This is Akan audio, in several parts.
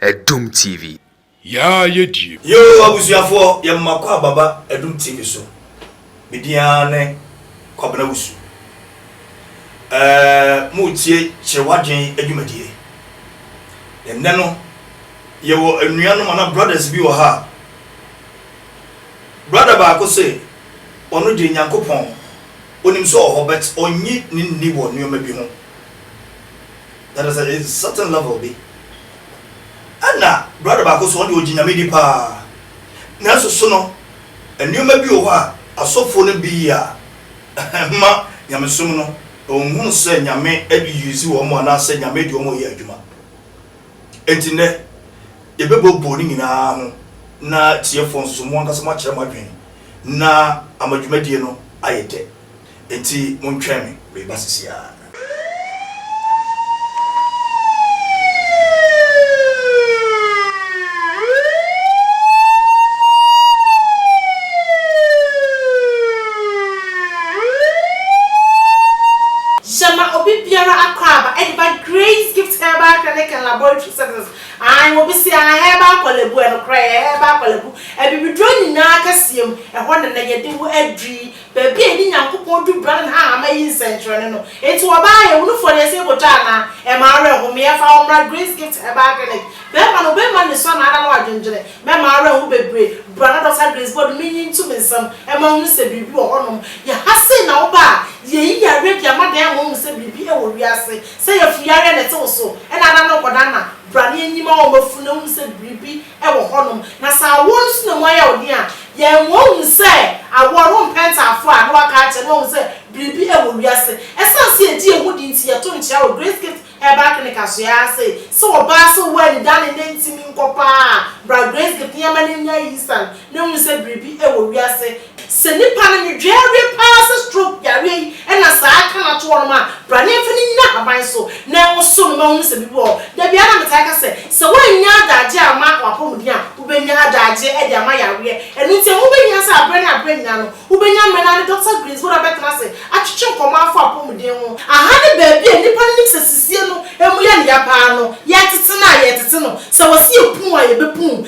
Adum TV. Yaa yɛ die. Yoo abusuafoɔ yɛ mmako a baba adum TV so me din ara ne Kwabena Wusu ɛɛɛ mo retie kyerɛ w'adwen adwumadie na nnɛ no yɛ wɔ anuanom anaa brothers bi wɔ ha a brother baako se ɔno deɛ Nyankopɔn Onim sɛ ɔwɔ hɔ but ɔnnye ne nni wɔ nnoɔma bi ho. That is a certain level bi. Ɛna brother baako nso ɔno deɛ ɔgye Nyame di paa nanso so no nnoɔma bi wɔ hɔ a asɔfoɔ no bi yɛ a ɛmma Nyamesom no ɔnhunu sɛ Nyame de use wɔn anaasɛ Nyame de wɔn reyɛ adwuma. Enti nnɛ, yɛbɛbɔ boo no nyinaa ano na tiefo nso, mo ankasa moakyerɛ mo adwene na ama dwumadie no ayɛ dɛ. Enti montwɛn me, mereba sese ara. Herbal Clinic and Laboratory Services, Ae wɔ Bisiaha Herbal Kwalabu, Ɛnokorɛ ɛyɛ Herbal Kwalabu, Abibiduro nyinaa kɛseɛ mu, ɛhɔ na na yɛde wo aduri, baabi a yɛde Nyankopɔn dubra ne nhahamma yi nsɛnkyerɛnne no, enti wɔbaa yɛ, wunufoɔ deɛ ɛsɛ yɛkɔtwa anaa? Ɛmma awerɛhomeɛ ɛfa hɔ mmra Grace Gift Herbal Clinic, bɛɛma no bɛɛma ne sua na ada no adwendwene, mɛma awerɛho bebree, bra na Dɔkta Grace Bɔdu me nyi nto me nsam ɛma nhunu sɛ biribi wɔ hɔ nom, yɛha sei na woba a, yɛyi yareɛ de ama dan ama wohu sɛ biribi wɔ wiase. Sɛ yafuyareɛ na ɛte wo so na ada no nkɔda na bra na yɛnyi ma wo ma funu ahu sɛ biribi wɔ hɔnom. Na sɛ awoɔ no so na mu ayɛ wo den a, yɛn mmoa ɔhu sɛ awoɔ no wompɛntaafoɔ a na waka akyerɛ na wahu sɛ biribi wɔ wiase. Ɛsiane sɛ yɛgye yɛn ho di nti yɛto nkyea wɔ Grace Gift Herbal Clinic asoɛe ara sɛ, sɛ ɔbaa sɛ ɔwɔ anidane na ntumi nkɔ paa a, bra Grace Gift na yɛma no anya ayisan na ahu sɛ biribi wɔ wiase. Sɛ nipa no nwedwee awie paa sɛ stroke yareɛ yi na saa ka no ato hɔ nom a, bra ne yɛmfa no nyina ahaban so na ɛnwo so no ma hunu sɛ biribi wɔ hɔ. Da biara na metae ka sɛ, sɛ woannya adagyeɛ amma w'apɔmuden a, wobɛnya adagyeɛ de ama yareɛ. Ɛno nti ɛho bɛhia sɛ aberɛ ne aberɛ nyina no, wobɛnya mmerɛ na ne Dɔkta Greensboro abɛtena ase atwetwe nkɔmmɔ afa apɔmuden ho. Aha ne baabi a nnipa no nim sɛ sisie no mu yɛ no ya paa no. Yɛtete no a, yɛtete no. Sɛ wɔse yɛpuu a, yɛbɛpuu.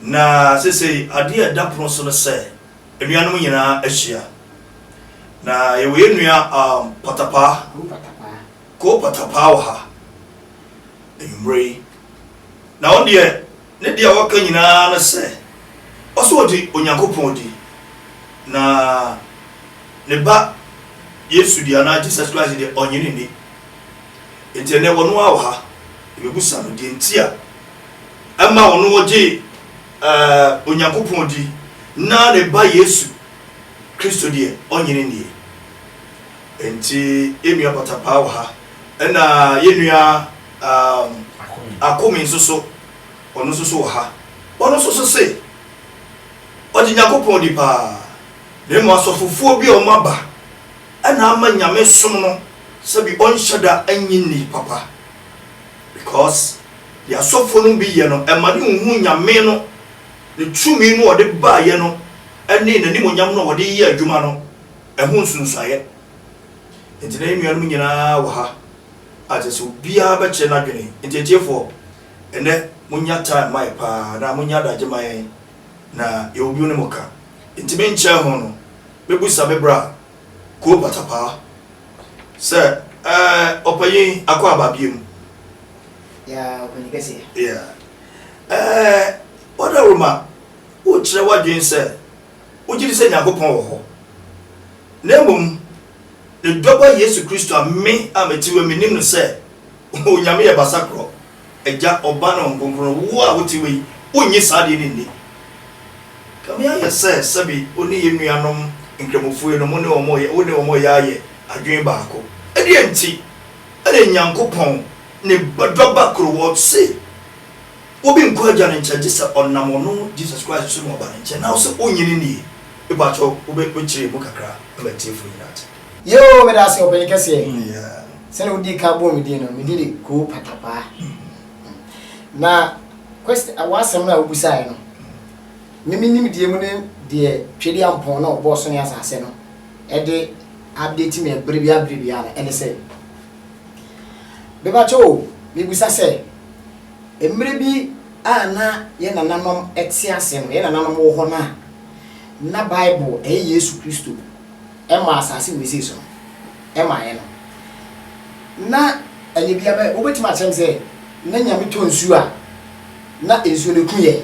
Na seesei adeɛ a ɛda pono so ne sɛ anuanom nyinaa ahyia. Na yɛwɔ yɛn nua um, Patapaa, Ko Patapaa wɔ ha anwummerɛ yi. Na ɔno deɛ ne deɛ ɔka nyinaa ne sɛ ɔsɛ ɔdi Onyankopɔn di. Na ne ba Yesu deɛ anaa Jesus Christ deɛ ɔnye ne nni. Nti ɛnɛ ɔno ara wɔ ha, yɛbɛbusa no deɛ nti a ma wɔn a wɔgye Onyankopɔn di na ne Ba Yesu Kristo deɛ, ɔnnye no nnie. Enti yɛn nua Patapaa wɔ ha, ɛna yɛn nua Akome nso so, ɔno nso so wɔ ha. Ɔno nso so se ɔgye Nyankopɔn di paa, na mmom asɔfofoɔ bi a wɔaba na ama Nyame som no sɛbi ɔnhyɛ da nnye nni papa because Deɛ asɔfoɔ nom bi yɛ no, ɛma ne nhu Nyame no, Ne tumi no a ɔde baeɛ no, ne N'animuonyam no a ɔde yɛ adwuma no, ɛho nsunsuaeɛ. Enti na yɛn nuanom nyina ara wɔ ha a kyerɛ sɛ obiara bɛkyerɛ n'adwene. Enti atiefoɔ, ɛnnɛ monya time ma yɛ pa ara, anaa monya adagye ma yɛn, na yɛwɔ bio ne mo ka. Enti menkyɛɛ ho no, mɛbusa me bra a Ko Batapaa sɛ, Ɛɛ, ɔpanyin, akɔ aba biom? Yaa, ɔpanyin kɛseɛ. Yaa. Ɛɛ, Ɔdawuruma, wokyerɛ w'adwene sɛ wogye di sɛ Nyankopɔn wɔ hɔ, na mmom Ne Dɔba Yesu Kristo a me a mete wɔ yi menim no sɛ Onyame yɛ Basakorɔ. Agya, Ɔba ne Honhom Kronkron, wo a wote hɔ yi, wonnye saa adeɛ no nni? Kame ayɛ sɛ sɛbe wo ne yɛn nuanom Nkramofue no, mo ne wɔn reyɛ, wo ne wɔn reyɛ ayɛ adwene baako. Ɛdeɛn nti na Nyankopɔn ne Ba, Dɔba koro, wɔ se obi nnkɔ Agya no nkyɛn gye sɛ ɔnam Ɔno, Jesus Christ, so na waba ne nkyɛn? Na wo se wonnye no nnie? Mepakyɛw, wobɛ, bɛkyerɛ emu kakra ma atiefo nyinaa ate. Yoo meda ase ɔpanyin kɛseɛ sɛdeɛ wodii ka bɔɔ me din no me din de koo patapaa na question w'asɛm no a wobusaeɛ no me me nimdeɛ mu ne deɛ twɛdi ampɔn na ɔbɔɔ so ne asase no ɛde update me bere bia bere bia no ɛne sɛ bebakyɛ o mebusa sɛ mmerɛ bi a na yɛ nananom ɛte ase no yɛ nananom wɔ hɔ no a na Bible ɛyɛ Yesu Kristo Ɛma asase wesee so no, ɛmaeɛ no, na ɛnyɛ bia bɛ, wobɛtumi akyerɛ me sɛ na Nyame tɔ nsuo a na nsuo no ku yɛn?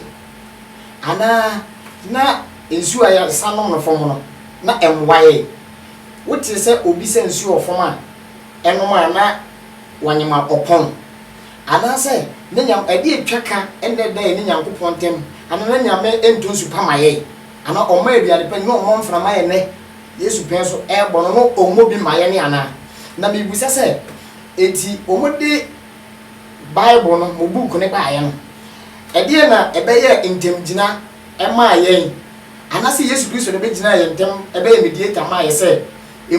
Anaa na nsuo a yɛsa nom no fam no, na ɛmmoa yɛn? Wotee sɛ obi sa nsuo wɔ fam a ɛnom a na wanyem a ɔpɔn? Anaasɛ na Nyame, ɛdeɛ ɛtwa ka ɛnnɛ da yɛne Nyankopɔn ntam, anaa na Nyame ntɔ nsu pa ma yɛn? Anaa ɔmma aduane pa nyɛ ɔmɔ mframa yɛ nɛ yesu pɛn so ɛbɔ no no ɔmɔ bi ma yɛne anaa na mebisa sɛ enti ɔmɔ de bible no mo book no baayɛ no ɛdeɛ na ɛbɛyɛ ntɛmgyina ɛmaa yɛn anasɛ yesu kristo na ɛbɛgyinaa yɛn ntɛm ɛbɛyɛ mediator maa yɛ sɛ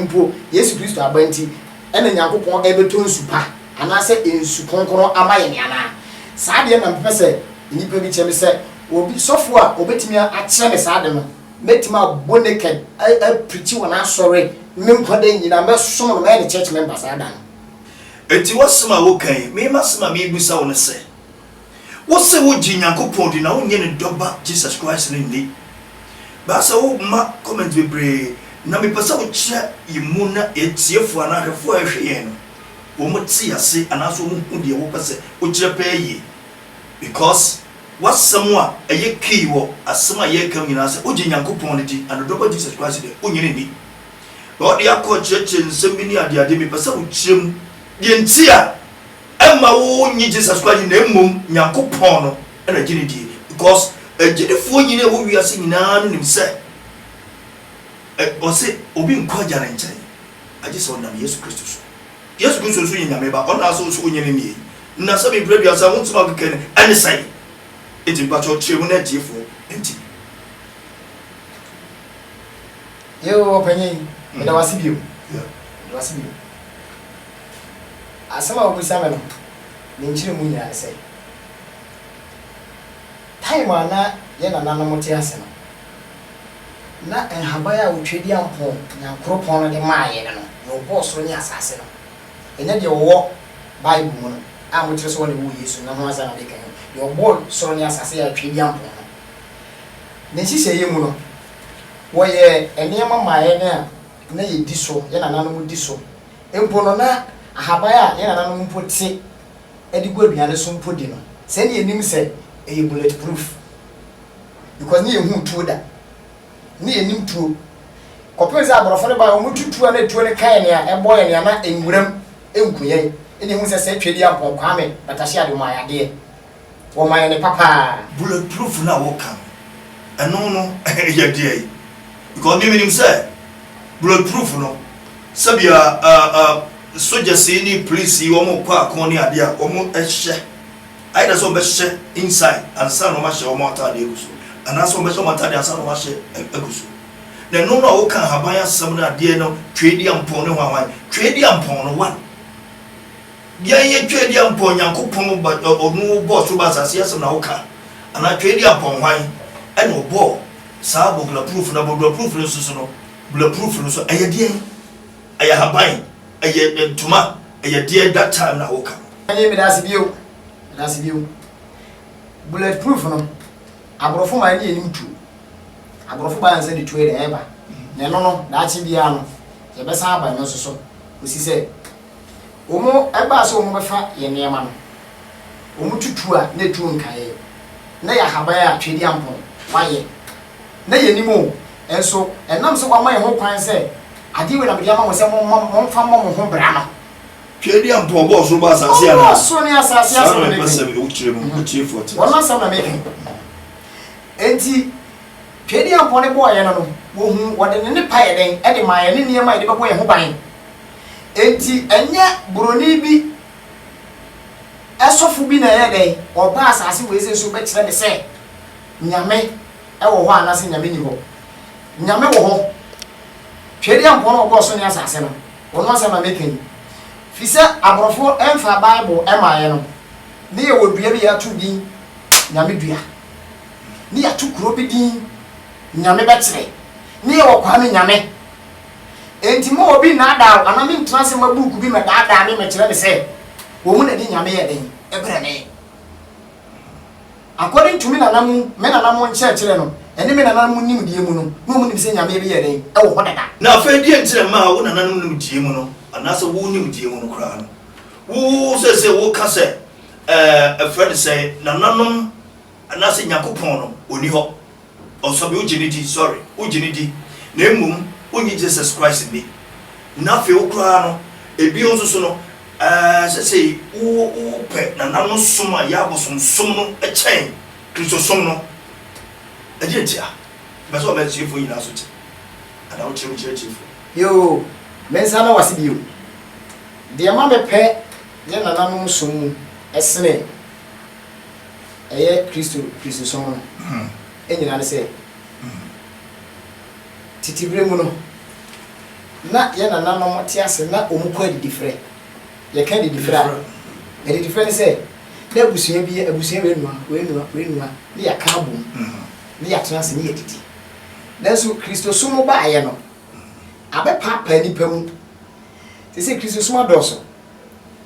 mpo yesu kristo aba nti ɛna nyankopɔn ɛbɛtɔ nsu pa anasɛ nsu kronkron ama yɛne anaa saa deɛ na mpɛ sɛ nnipa bi kyɛ me sɛ Obi, sɔfo a obetumi akyerɛ me saa ade no, mɛtumi abɔ naked, apirikyi wɔ n'asɔre me nkwa da nyinaa, mɛsom no, mɛyɛ ne church member saa da no. Enti w'asɛm a woka yi, me m'asɛm a merebisa wo ne sɛ, wose wogye Nyankopɔn di na wonnye Ne Dɔba Jesus Christ no nni? Baasa woma comment bebree na mepɛ sɛ wokyerɛ yɛn mu na atiefo anaa ahwɛfo a ɛrehwɛ yɛn no wɔn te ase anaasɛ wɔn hu deɛ wopɛ sɛ wokyerɛ pɛɛ yie because W'asɛm a ɛyɛ key wɔ asɛm a yɛreka mu nyinaa sɛ wogye Nyankopɔn no di and wodɔ ba Jesus Christ deɛ, wonnye no nni. Na wode akɔ akyerɛkyerɛ nsɛm bi ne adeade, mepɛ sɛ wokyerɛ mu deɛ nti a ɛmma wonnye Jesus Christ nni na mmom Nyankopɔn no na wogye no die. Because agyidifoɔ nyini a ɛwɔ wiase nyinaa no nim sɛ Ɔse obi nkɔ Agya no nkyɛn agye sɛ ɔnam Yesu Kristo so. Yesu Kristo nso yɛ Nyame Ba, ɔna so nso ɔnyɛ ne nie. Na sɛ mebrɛ aduasa ho nsɛm a mekɛkɛ no, ɛne sɛn? Enti mpakyɛw kyerɛ mu na atiefoɔ nte. Yeo ɔpanyin, meda wo ase bio. Meda wo ase bio. Asɛm a wobisa me no, ne nkyerɛmu nyinaa ne sɛ, time a na yɛn nananom te ase no, Na nhaban a Otwedeampɔn Nyankoropɔn no de maa yɛn no, nea ɔbɔɔ soro ne asase no, ɛnyɛ deɛ ɔwɔ Bible mu no, a mokyerɛ sɛ ɔna ɛwɔ Yesu no ho asɛm na meka yi, deɛ ɔbɔɔ soro ne asase yɛ Atwedeampɔn no. Ne nhyehyɛeɛ mu no, wɔyɛɛ nneɛma maa yɛn a na yɛdi so, yɛn nananom di so mpo no, na ahaban a yɛn nananom mpo te de gu aduane so mpo di no, sɛdeɛ yɛnim sɛ ɛyɛ bulletproof because ne yɛ hu tuo da ne yɛ nim tuo kɔpem sɛ aborɔfo no baa wɔn tutu a na tuo no kae nea ɛbɔ yɛ nea na nwuram nku yɛ ɛna ehu sɛ sɛ twɛdi ampɔn kwame batahye ade wɔn ayadeɛ wɔn ayɛ ne papaa. Bullet proof no a woka no ɛno no yɛ deɛn because me menim sɛ bullet proof no sɛbia uh, uh, sogyasii ne polisii wɔn kɔ akɔn ne adeɛ a wɔn hyɛ Ayɛ dɛ sɛ wɔbɛhyehyɛ inside ansa na wɔahyɛ wɔn atade agu so, anaasɛ wɔbɛhyɛ wɔn atade ansa na wɔahyɛ agu so. Na ɛno na woka nhaban asɛm no adeɛ no Tweediampɔn ne hwan hwan? Tweediampɔn no one. Deɛ ɛyɛ Tweediampɔn Nyankopɔn ba ɔno bɔɔ soro ba asase asɛm na woka anaa Tweediampɔn hwan ɛna ɔbɔɔ saa bɔglaproof na bɔglaproof no nso so no bulaproof no nso ɛyɛ deɛn? Ɛyɛ ahaban, ɛyɛ ntoma, ɛyɛ deɛ that time na woka no. Ɛne medase bio, medase bio. Bullet proof no, aborɔfo maa ɛne anim tuo. Aborɔfo baeɛ ansa ne tuo de ɛɛba. Na ɛno no, daakye biara no, yɛbɛsan aba ɛno nso so. Kɔsi sɛ Wɔbaa sɛ wɔbɛfa yɛn nneɛma no, wɔtutuu a na etu nkae. Ná ɛyɛ ahaban a Tweaduampɔn wayɛ. Ná yennim o, nso ɛnam sɛ wama yɛn ho kwan sɛ, Ade wei na mede ama mo sɛ momma, momfa mmɔ mo ho bra no. Tweaduampɔn bɔɔ ɔsoro bɔɔ asase anaa? Ɔbɔɔ ɔsoro ne asase. Saa na mepɛ sɛ wo tiri mu atiefoɔ te. Wɔn asɛm na meka yi. Enti Tweaduampɔn de bɔɔ yɛn no no, wɔhuu, wɔde ne nnepa yɛ dɛn de maa yɛn, ne nneɛma a yɛde bɛbɔ yɛn ho ban. Enti ɛnyɛ borɔni bi sɔfo bi na ɛyɛ dɛn, ɔbaa asase wei sɛ so bɛkyerɛ me sɛ Nyame wɔ hɔ anaasɛ Nyame nni hɔ. Nyame wɔ hɔ. Tweaduampɔn a ɔbɔɔ so ne asase no, ɔno asɛm na meka yi. Firi sɛ aborɔfo mfaa Bible mmaeɛ no, ne yɛwɔ dua bi yɛato din Nyame dua. Ne yɛato kuro bi din Nyame bɛkyerɛ. Ne yɛwɔ Kwame Nyame. Enti mma obi nnaadaa wo anaa menntena ase mma buuku bi mmɛdaadaa me mmɛkyerɛ me sɛ wɔn mu na ɛde Nyame yɛ den brɛ me. According to me nana mu, me nana mu nkyerɛkyerɛ no, ɛne me nananom mu nimdeɛ mu no, na wɔn nim sɛ Nyame bi yɛ den, ɛwɔ hɔ dada. Na afei deɛn nti na ɛmaa wo nananom nimdeɛ mu no, anaasɛ wo nimdeɛ mu no koraa no, wo seesei wo ka sɛ ɛɛ ɛfrɛ no sɛn, nananom anaasɛ Nyankopɔn no ɔnni hɔ? Ɔsɔbi wo gyene di sorry wo gyene di na mmom wo nyi Jesus Christ nni na afei wo koraa no ebio nso so no ɛɛ sɛsei wo wo pɛ nana no som a yɛ abosom som no kyɛn Christo som no ɛdeɛ nti a bɛ sɛ ɔma atiefoɔ nyinaa so te anaa wo tiri mu kyerɛ atiefoɔ. Yoo me nsa da wase bio deɛ ma me pɛ yɛ nananom som mu ɛsene. ɛyɛ Kristo Kristosom no nyinaa ne sɛ, tete bere mu no, na yɛn nananom te ase na wɔkɔ adidifrɛ. Yɛka adidifrɛ a, adidifrɛ ne sɛ, na abusua bi, abusua wei nua, wei nua, wei nua, na yɛaka abom, na yɛatena ase, na yɛadidi. Nanso Kristosom baeɛ no, abɛpaapaa nnipa mu. Seesei Kristosom adɔɔso.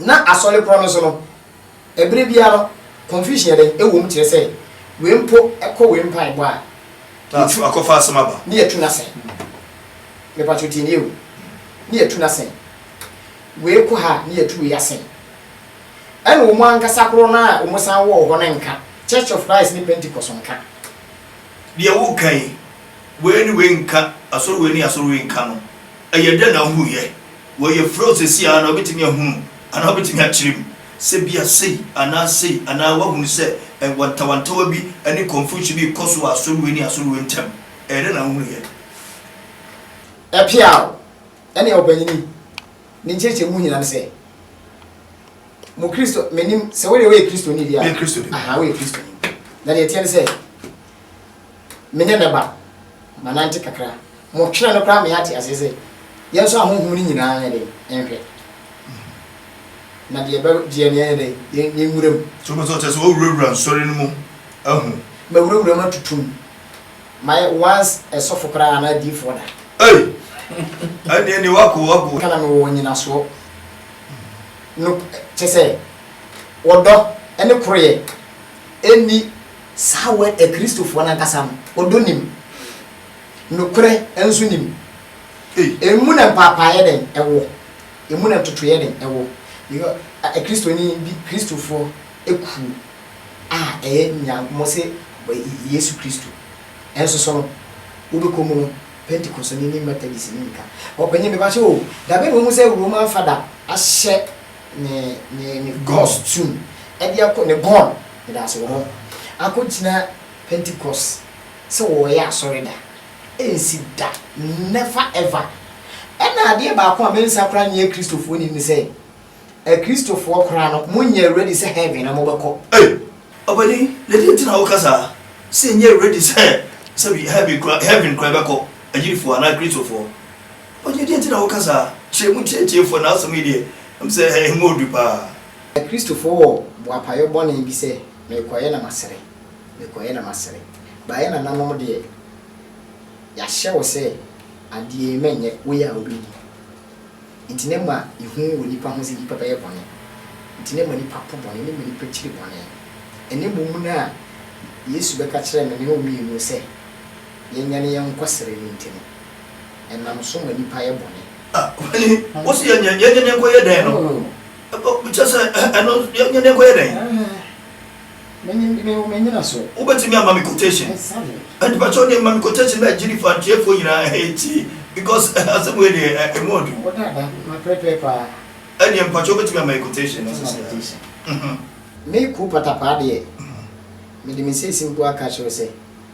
Ná asɔre korɔ no so no, ɛberɛ biara no, confusion yɛ dɛn wɔ mu kyerɛ sɛ wei mpo kɔ wei mpaebɔ a, Na yɛtu, akɔfa asɛm aba. ne yɛtu no asɛ. Mepakyɛw tie nie o, ne yɛtu no asɛ. Wei kɔ ha a, ne yɛtu wei asɛ. Ɛna wɔn ankasa korɔ no a wɔsan wɔ hɔ no nka, Church of Christ ne Pentecost nka. Deɛ woreka yi, wei ne wei nka, asɔre wei ne asɔre wei nka no, Ɛyɛ dɛn na wohuruiɛ? Wɔyɛ frɛw seesei ara na wobɛtumi ahunu anaa wobɛtumi akyerɛ mu sɛ ebia sei anaa sei anaa woahunu sɛ wantawantawa bi ne confusion bi rekɔ so wɔ asɔre wei ne asɔre wei ntam. Ɛyɛ dɛn na wohuruiɛ? Ɛpeaw ɛne ɔpanyin yi ne nkyerɛkyerɛ mu nyinaa ne sɛ, Mo Kristo, mennim sɛ wo deɛ woyɛ Kristoni deɛ a, aha, woyɛ Kristoni. Na deɛ ɛteɛ ne sɛ. Me ne ne ba, manante kakra. Motwena no koraa ma yɛate aseɛ sɛ, yɛn nso ahonhom no nyinaa nyɛ dɛn? Nhwɛ. Na deɛ ɛbɛ, deɛ neɛ yɛ dɛn? Yɛn, yɛn nwura mu. So wopɛ sɛ ɔkyerɛ sɛ wɔawurawura nsɔre no mu ahu? Mawurawura mu atutu mu. Mayɛ once ɛsɔfo koraa anaa adiyifoɔ da. Ei! Ɛnneɛ nie, wako, wako. Nka na mewɔ nyinasoɔ. No, kyɛ sɛ, ɔdɔ ne koroyɛ nni Saa wɔ ɛ Kristofoɔ no ankasa no, ɔdɔ nim, nokorɛ nso nim. Emu na mpaapaaeɛ dɛn wɔ? Emu na ntotoeɛ dɛn wɔ? Because Kristoni bi, Kristofoɔ kuo a ɛyɛ nya, wɔse Yesu Kristo nso so no, wobɛkɔ mu no, Pentekosoni ne Methodistni nka. Ɔpanin, mepakyɛ o, da bɛn na wahu sɛ Roman Fada ahyɛ ne, ne, ne gɔs tum de akɔ, ne gɔn Yɛda ase wɔ hɔ. Akogyina Pentecost sɛ wɔyɛ asɔre da. Ɛnsi da. Never ever. Ɛna adeɛ baako a me nsa koraa nyɛ Kristofoɔ nnim ne sɛ, Akristofoɔ koraa no, mo nyɛ ready sɛ heaven na mobɛkɔ. Ei! Ɔpanin, na deɛ nti na woka saa? Sɛ yɛnyɛ ready sɛ sɛbi heaven koraa, heaven koraa yɛbɛkɔ, Agyidifoɔ anaa Akristofoɔ? Ɔpanin, deɛ nti na woka saa? Kyerɛ mu nkyerɛ atiefoɔ na asɛm yi deɛ, ɛm sɛ ɛho ɔɔdu paa. Na Kristofo wɔ boapayɔ bɔne bi sɛ, Merekɔyɛ na masere, merekɔyɛ na masere. Ba yɛn nananom deɛ, yɛahyɛ wo sɛ, Adeɛ yi menyɛ, woyɛ a wobɛdi. Enti na ɛma ehu wɔ nnipa ho sɛ nnipa bɛyɛ bɔne. Enti na ɛma nnipa po bɔne, na ɛma nnipa kyiri bɔne. Ɛnnɛ mmom no a Yesu bɛka kyerɛɛ me ne wo mmienu sɛ yɛnyane yɛn nkɔsere no nti no, ɛnam so ma nnipa yɛ bɔne. Ɔhene, wo se yɛnyɛ yɛnyɛ ne nkɔyɛ dɛn no? Kyerɛ sɛ ɛno yɛnyɛ ne nkɔyɛ dɛn? Wobɛtumi ama me quotation? Mpakyɛw deɛ ma me quotation na gyiri fa atiefoɔ nyinaa ɛtie because asɛm wei deɛ ɛmu ɔdu. Ɛdeɛ mpakyɛw wobɛtumi ama yɛ quotation no sɛsɛ? Me Kuu Patapaa deɛ, mede me seesim mpo aka akyerɛ wo sɛ.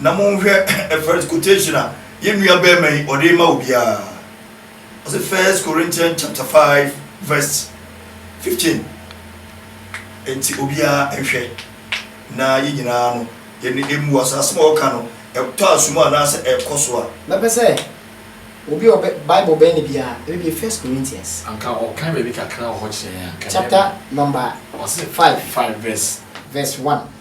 na monhwɛ first quotation a yɛn nua bɛrima yi ɔde ma obiara ɔsɛ first corinthian chapter 5 verse 15 nti obiara nhwɛ na yɛn nyinaa no yɛn emu wɔ asasem a ɔka no ɛtɔ asum anaasɛ ɛkɔ so a mɛpɛ sɛ obi ɔbɛ bible bɛn ne biara ɛbɛbie first corinthians anka ɔkan baabi kakra wɔ hɔ kyerɛ yɛn a nka chapter number ɔse 5 5 verse verse 1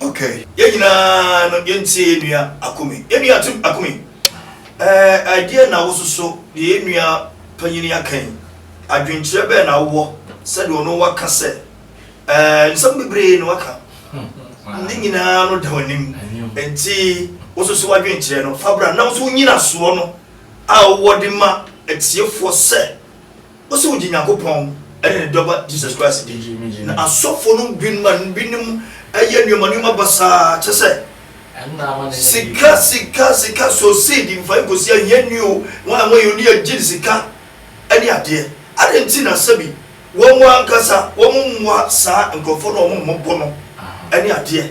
Okay yɛn nyinaa no yɛn tie yɛn nua Akume. Yɛn nua Tim Akume ɛɛ ɛdeɛn na wo soso deɛ yɛn nua panyin yi aka yi adwenkyerɛ bɛn na wo wɔ sɛdeɛ ɔno wa ka sɛ ɛɛ nsɛm bebree na waka ne nyinaa no da w'anim nti wo soso w'adwenkyerɛ no fa bra na wo nso wo nyinasoɔ no a wo wɔ de ma atiefoɔ sɛ Ose wogye Nyankopɔn ne ne Dɔba Jesus Christ di. Na asɔfo no bi ma binom yɛ nneɛma nneɛma basaa te sɛ, sika, sika, sika, sow seed, mfa nkosi ahiani o, wɔn a wɔyɛ no ne agyin sika ne adeɛ. Adɛn nti na sɛbi wɔn ankasa wɔmmoa saa nkurɔfoɔ no a wɔmmɔ bo no ne adeɛ?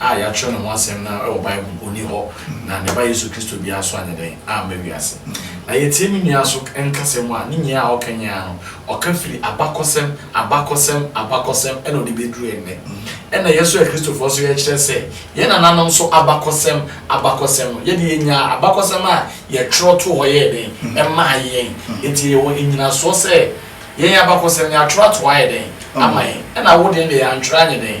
a yɛatwerɛ ne ho asɛm no ara wɔ Bible mu, ɔnni hɔ, na ne Ba Yesu Kristo biara nso anyɛ dɛn amma wiase. Na yɛtie me nua so nkasa mu a, ne nyinaa a ɔka nyinaa no, ɔka firi abakɔsɛm, abakɔsɛm, abakɔsɛm, ɛna ɔde bɛduru ɛnnɛ. Ɛna yɛn nso Akristofoɔ nso yɛkyerɛ sɛ, yɛn nananom nso abakɔsɛm, abakɔsɛm no, yɛde yɛnyaa abakɔsɛm a yɛtwerɛ too hɔ yɛɛ dɛn, ɛmaa yɛn. Enti yɛwɔ nnyinasoɔ sɛ yɛn abakɔsɛm no yɛatwerɛ ato hɔ ayɛ dɛn, ama yɛn. Ɛna wo deɛ no deɛ yɛantwerɛ anyɛ dɛn.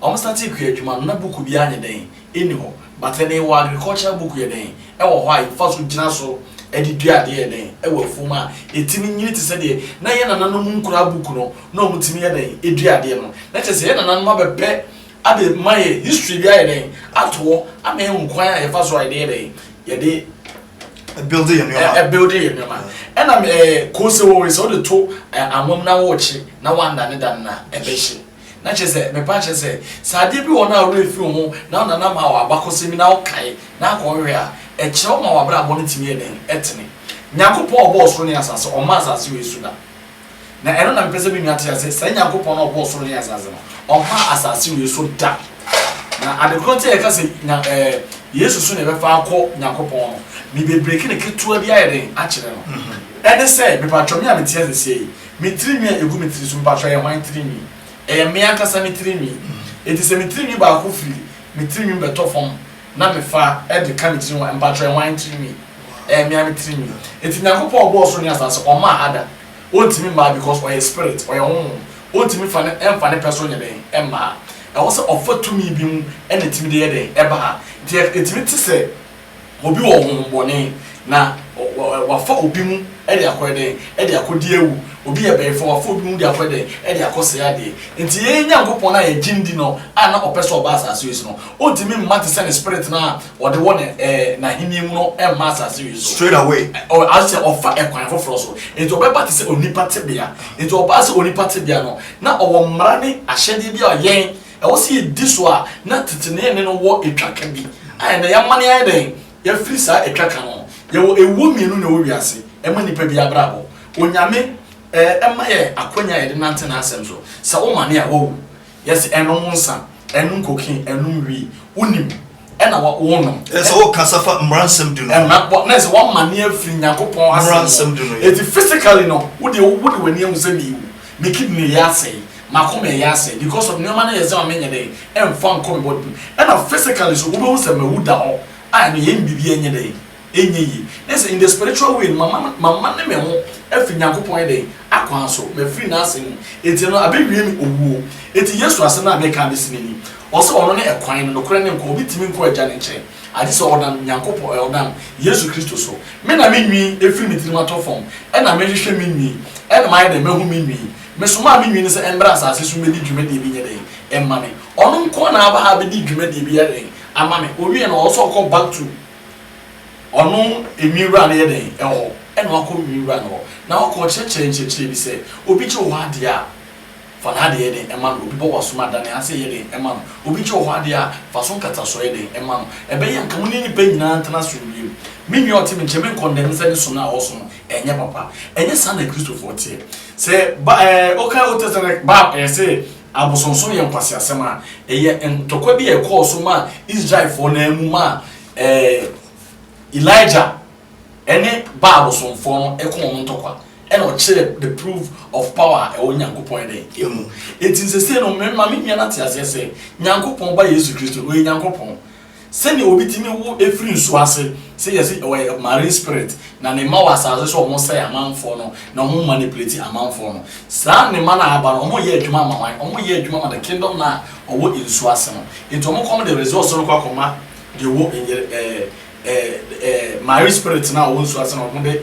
Ɔmo san tee kua adwuma no na book biaa nyɛ dɛn nni hɔ but ɛnɛ yɛwɔ agricultural book yɛ dɛn ɛwɔ hɔ a yɛfa so gyina so de dua adeɛ yɛ dɛn ɛwɔ afuom a ɛtumi nyini te sɛ deɛ na yɛn nananom nkuraa book no na ɔmo tumi yɛ dɛn ɛdua adeɛ no na kyerɛ sɛ yɛn nananom abɛpɛ ade ma yɛ history bi ayɛ dɛn ato hɔ ama yɛn hu kwan a yɛfa so a yɛde yɛ dɛn yɛde ɛbuilde yɛ nneɛma ɛbuilde yɛ nneɛma ɛna ɛɛ kose wɔwe sɛ wode to anwam na wɔrekye na wanda ne da no na ɛbɛhye Na kyerɛ sɛ, mepɛ akyerɛ sɛ, sɛ adeɛ bi wɔ hɔ na wo werɛ fi wo ho na wo nana ma wo abakɔsɛm bi na wo kae na akɔ hwɛ a, ɛkyerɛ wo ma w'abrabɔ no tumi yɛ dɛn? Ɛtene. Nyankopɔn a ɔbɔɔ soro ne asase, ɔmmaa asase wei so da. Na ɛno na mepɛ sɛ me nua te aseɛ, saa Nyankopɔn no a ɔbɔɔ soro ne asase no, ɔmmaa asase wei so da. Na ade korɔ nti a yɛka sɛ nya ɛɛ Yesu so na yɛbɛfa akɔ Nyankopɔn no, me bɛbreki no ketewa bi ayɛ dɛn? Akyerɛ no. Ɛne sɛ, mepatwɔ me a mete aseɛ yi, Me tirinwi a egu me tiri so, mpatsɔ ɛyɛ hwan tirinwi? Ɛyɛ me ankasa me tirinwi. Enti sɛ me tirinwi baako firi me tirinwi mu bɛtɔ fam na mefa de ka me tirinwi ho a, mpatsɔ ɛyɛ hwan tirinwi? Ɛyɛ me ara me tirinwi. Enti Nyankopɔn a ɔbɔɔ soro ne asaase, ɔmmaa Adam. Ontumi mmaa because ɔyɛ spirit, ɔyɛ honhom. Ontumi fa ne, ɛmfa ne pɛ so nyɛ dɛn? Ɛmmaa. Ɛwɔ sɛ ɔfa tumi bi mu na etumi de yɛ dɛn? Ɛba. Enti yɛ, etumi te sɛ. Obi wɔ honhommɔne, na wafa obi mu de akɔyɛ dɛn? De akɔdi awu. Obi yɛ bayifa, wafa obi mu de akɔyɛ dɛn? De akɔsɛe adeɛ. Enti yɛn Nyankopɔn no a yɛgye no di no a na ɔpɛ sɛ ɔba asase wei so no, ɔntumi mma te sɛ ne Spirit no a ɔde wɔ n'Ahennie mu no mma asase wei so. Straight away. As sɛ ɔfa ɛkwan foforɔ so. Enti ɔbɛba te sɛ onipa tebea. Enti ɔbaa sɛ onipa tebea no, na ɔwɔ mmara ne ahyɛdeɛ bi a yɛn, ɛwɔ sɛ yɛdi so a na tete ne ɛnne no wɔ twaka bi a ɛnnɛ yɛamane ayɛ dɛn yɛafiri saa twaka no ho. Yɛwɔ awuo mmienu na ɛwɔ wiase ɛma nnipa biara abrabɔ. Onyame ɛma yɛ akwanya a yɛde nante n'asɛm so. Sɛ womane a woawu. Yɛse ɛnom nsa, ɛnom cocaine, ɛnom wii. Wonim ɛna wɔnom. Ɛsɛ wɔkasa fa mmara nsɛm du no. Ɛna wɔ na ɛsɛ wɔn mane afiri Nyankopɔn asɛm. Mmara nsɛm du no yɛ. Eti physically no, wo deɛ wo de w'ani ahu sɛ mewu, me kidney yɛ asɛe, m'akoma yɛ asɛe because of nneɛma no yɛ sɛ ma menyɛ dɛ ɛnfa nkɔ me body mu. Ɛna physically nso wobɛhu sɛ mawu da hɔ a ɛno yɛn biribi ɛnyɛ dɛ. ɛnyɛ yie. Na sɛ in the spiritual way no, mamane me ho afiri Nyankopɔn yɛ dɛn? Akwan so. Mafiri N'asɛm mu. Enti no, abɛwie me owuo. Enti Yesu asɛm no a meka abɛsi no ni, Ɔse Ɔno ne ɛkwan no, nokorɛ ne nkwa. Obi ntumi nkɔ Agya no nkyɛn, agye sɛ ɔnam Nyankopɔn, ɛɛ, ɔnam Yesu Kristo so. Me na me nwii afiri me tirim atɔ fam, ɛna mehwehwɛ me nwii, ɛna mayɛ dɛn? Mahu me nwii. Mesomaa me nwii no sɛ ɛmmra asase so mmɛdi dwumadie bi nyɛ dɛn? Mma me. Ɔno nko ara na aba ha abɛdi dwumadie bi yɛ dɛn? Ama me. Ɔwie no, ɔwɔ sɛ ɔkɔ back to. Ɔno nwi wura no yɛ dɛn? Ɛwɔ hɔ. Ɛna wakɔ nwi wura no hɔ, na wakɔ ɔkyerɛkyerɛ nkyerɛkyerɛ bi sɛ, Obi gye wɔ hɔ adeɛ a, fa n'adeɛ yɛ dɛn? Ɛma no. Obi bɔ w'asom a, da ne ase yɛ dɛn? Ɛma no. Obi gye wɔ hɔ adeɛ a, fa so nkatasoɔ yɛ dɛn? Ɛma no. Ɛbɛyɛ a anka mo ne nnipa nyinaa ntena asomdwoeɛ mu. Me nua a ɔte me nkyɛn, menkɔndɛm sɛ ne som a ɔresom no, ɛnyɛ papa. Ɛnyɛ saa na Akristofoɔ teɛ. Sɛ ba ɛɛ wokan Old Testament Bible ɛɛ sɛ. Abosonsom yɛ nkwaseasɛm a ɛyɛ ntɔkwa bi a ɛkɔɔ so maa Israelfoɔ no ara mu maa ɛɛ Elijah ne Baal bosomfoɔ no kɔɔ wɔn ntɔkwa ɛna ɔkyerɛɛ the proof of power a ɛwɔ Nyankopɔn yɛ dɛn ɛmu. Enti sɛsei no me ma me nua no ate aseɛ sɛ Nyankopɔn Ba Yesu Kristo no ɔyɛ Nyankopɔn Sɛnea obi tumi wo firi nsuo ase, sɛ yɛse ɔyɛ marine spirit, na ne mma wɔ asase so a wɔsɛe amanfoɔ no, na wɔn manipulate amanfoɔ no. Saa ne mma no a aba no, wɔyɛ adwuma ma hwan? Wɔyɛ adwuma ma the kingdom no a ɔwɔ nsuo ase no. Nti wɔn kɔm de resource no kɔ akɔma deɛ ɔwɔ ɛɛ ɛɛ ɛɛ marine spirit no a ɔwɔ nsuo ase no, wɔn de.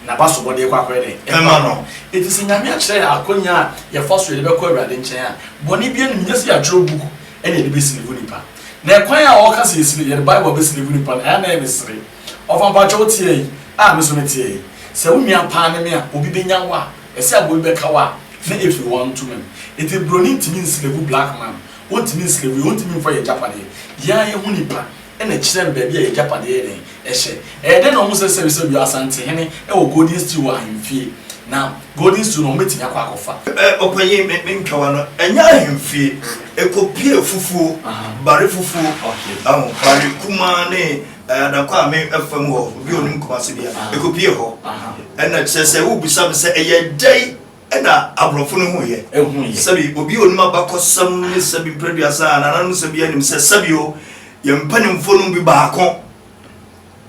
na w'asobɔ de rekɔ akɔyɛ dɛn? Ɛma no. Enti sɛ Nyame akyerɛ yɛ akwannya a yɛfa so yɛde bɛkɔ Awurade nkyɛn a, bɔne biara nni mu, nyɛ sɛ yɛatwerɛ book na yɛde bɛsilivu nipa. Na ɛkwan a ɔɔka sɛ yɛsili, yɛde Bible abɛsilivu nipa no, ɛyɛ a na ɛyɛ me sere. Ɔfa mpakyɛ wo teɛ yi a me so me teɛ yi, sɛ wo nua paa ne me a, obi bɛnya wo a, ɛsɛ a obi bɛka wo a, na it will want to me. Enti broni ntumi nsilivu black man, ɔntumi nsilivu yɛn, ɔntumi mfa yɛn agyapadeɛ. Yɛn ara yɛhu nipa. na kyerɛ me baabi a yɛn agyapade yɛ dɛn hyɛ. Ɛyɛ dɛn na wɔsɛ sɛre sɛ Ɔyɔ Asantehene wɔ Golden Stew wɔ ahemfie, na Golden Stew no wɔbɛtumi akɔ akɔfa? Ɔpanyin, me me nkawa no ɛnyɛ ahemfie, ɛkɔpie afufuo, bare fufuo, ahu, bare kumaa ne Adankwa Ame afa mu hɔ, obi a ɔnim Kumase deɛ, ɛkɔpie hɔ. Ɛna kyerɛ sɛ, worebisa me sɛ ɛyɛ dɛn? Ɛna aborɔfo no huiɛ. Ɛhuiɛ. Sɛbi obi a onim abakɔsɛm ne sɛbi mprɛduasa a nananom sɛbi anim sɛ sɛbi o yɛn mpanimfoɔ no mu bi baako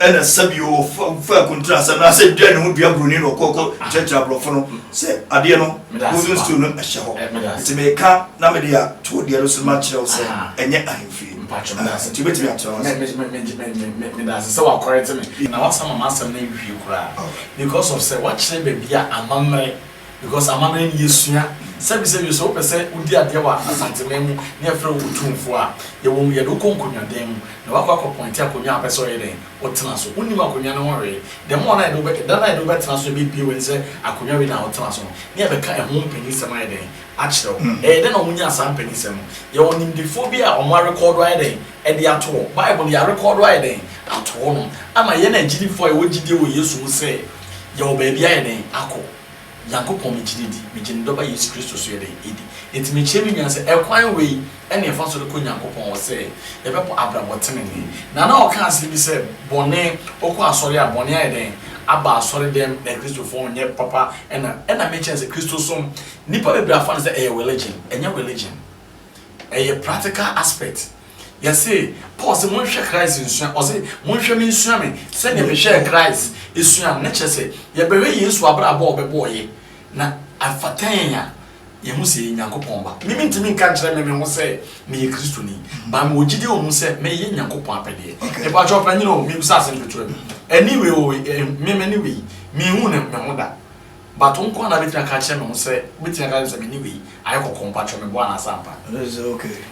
ɛna sɛbi o ɔfa akuntun asɛm no asɛ dua ne ho dua buroni na ɔkɔ kɔ kyerɛkyerɛ aborɔfo no sɛ adeɛ no golden stool no ɛhyɛ hɔ nti meka na mede ato deɛ no so ma kyerɛ wo sɛ ɛnyɛ ahemfie nti wobɛtumi akyerɛ wo ase. Meda ase sɛ wakɔrɛte me na wasama m'asɛm no awie koraa. Because of sɛ wakyerɛ baabi a amammerɛ because amammerɛ no yɛsua sɛbi sɛbi sɛ wopɛ sɛ wodi adeɛ wɔ Asanteman mu na yɛfrɛ wo Otumfoɔ a yɛwɔ mu yɛde wo kɔ nkonnwa dan mu na wakɔ akɔ pɔinte akonnwa a wopɛ sɛ ɔyɛ dɛn wotena so wonim akonnwa no ho hwee the more no a yɛde wobɛ da no a yɛde wobɛtena so yɛbɛbue w'ani sɛ akonnwa wei na wotena so no na yɛbɛka ɛho mpanisɛm ayɛ dɛn akyerɛ wo ɛyɛ dɛn na wɔnyaa saa mpanisɛm no yɛwɔ nimdefoɔ bi a wɔn arekɔɔdo ayɛ dɛn de ato hɔ. Bible de arekɔɔdo ayɛ dɛn ato hɔnom ama yɛn agyidifo a yɛwɔ gyidie wɔ Yesu mu sɛ yɛwɔ baabi ayɛ dɛn akɔ? Nyankopɔn megye no di, megye ne Dɔba Yesu Kristo nso yɛ dɛn di? Enti mekyerɛ me nua sɛ ɛkwan wei ne yɛfa so de kɔ Nyankopɔn hɔ sɛ yɛbɛbɔ abrabɔ tenenee. Nana ɔka asɛm bi sɛ bɔne ɔkɔ asɔre a bɔne ayɛ dɛn aba asɔre dɛm na Kristofo nyɛ papa ɛna ɛna mekyerɛ sɛ Kristosom nnipa bebree afa no sɛ ɛyɛ religion ɛnyɛ religion. Ɛyɛ practical aspect. Yɛse Paul sɛ monhwɛ Christ nsua, ɔse monhwɛ me nsua me sɛdeɛ mehwɛɛ Christ esua no. Ne kyerɛ sɛ yɛbɛhwɛ Yesu abrabɔ a ɔbɛbɔɔyɛ na afata yɛn a yɛhu sɛ yɛyɛ Nyankopɔn ba. Me mentumi nka nkyerɛ me me ho sɛ meyɛ Kristoni, but mewɔ gyidie wɔ mu sɛ meyɛ Nyankopɔn apɛdeɛ. Mepakyɛw panyini o, mebisa asɛm ketewa bi. Ɛne wei o, me mene wei, menhuu ne me ho da. But wo nkoa na bɛtumi aka akyerɛ me ho sɛ, wobɛtumi aka akyerɛ me sɛ me ne wei ayɛ kɔkɔɔ, mpakyɛw meboa anaa sɛ ampa?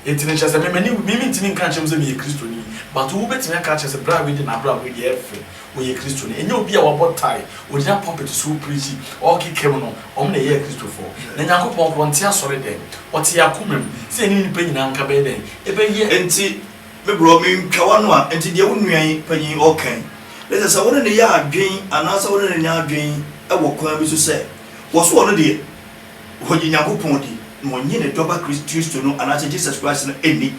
Enti no kyerɛ sɛ me m'ani wu, me mentumi nka nkyerɛ mo sɛ meyɛ Kristoni, but wo bɛtumi aka akyerɛ sɛ bra wei deɛ n'abrabɔ yi deɛ ɛyɛ fɛ, ɔyɛ Kristoni. Ɛnyɛ obi a wabɔ tae, ɔgyina pulpit so ɔrepreachi, ɔrekeka mu no, wɔn na ɛyɛɛ Kristofoɔ. Na Nyankopɔn korɔ ɔnte asɔre dɛm, ɔte yɛn akoma mu. Sɛ yɛne nnipa nyinaa nka bɛyɛ dɛn? Yɛbɛyɛ. Enti. Me bro, mentwa w'ano a, nti deɛ wo nua yi, panyin yi, ɔɔka yi, ne sɛ, sɛ wo ne no yɛ adwen anaasɛ wo ne no nyɛ adwen wɔ kwan bi so sɛ, wɔ so ɔno deɛ, ɔgye Nyankopɔn di, na ɔnnye ne Dɔba Kris, Kristo no anaasɛ Jesus Christ no nni?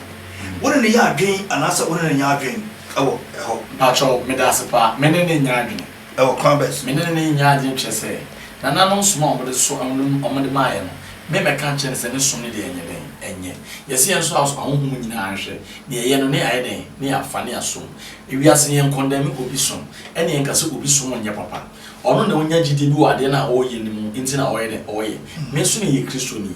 Wo ne no yɛ adwen anaasɛ wo ne no nyɛ adwen wɔ hɔ? Mpakyɛw, medaase paa, me ne no nyɛ adwene. Wɔ kwan bɛn so? Me ne no ne nyaa adwene kyerɛ sɛ, nananom som a wɔde so ɛho no wɔde maeɛ no, me mmɛka nkyerɛ no sɛ ne som no deɛ ɛnyɛ dɛn, ɛnyɛ. Yɛse yɛn nso asɔ ahonhom nyinaa nhwɛ, na yɛyɛ no na yɛayɛ dɛn, na yɛafa na yɛasom. Ewiase no yɛnkɔndɛme obi som, ɛna yɛnka sɛ obi som nyɛ papa. Ɔno na ɔnya gyidie bi wɔ adeɛ no a ɔreyɛ no mu nti na ɔyɛ dɛn, ɔyɛ. Me nso meyɛ Kristoni,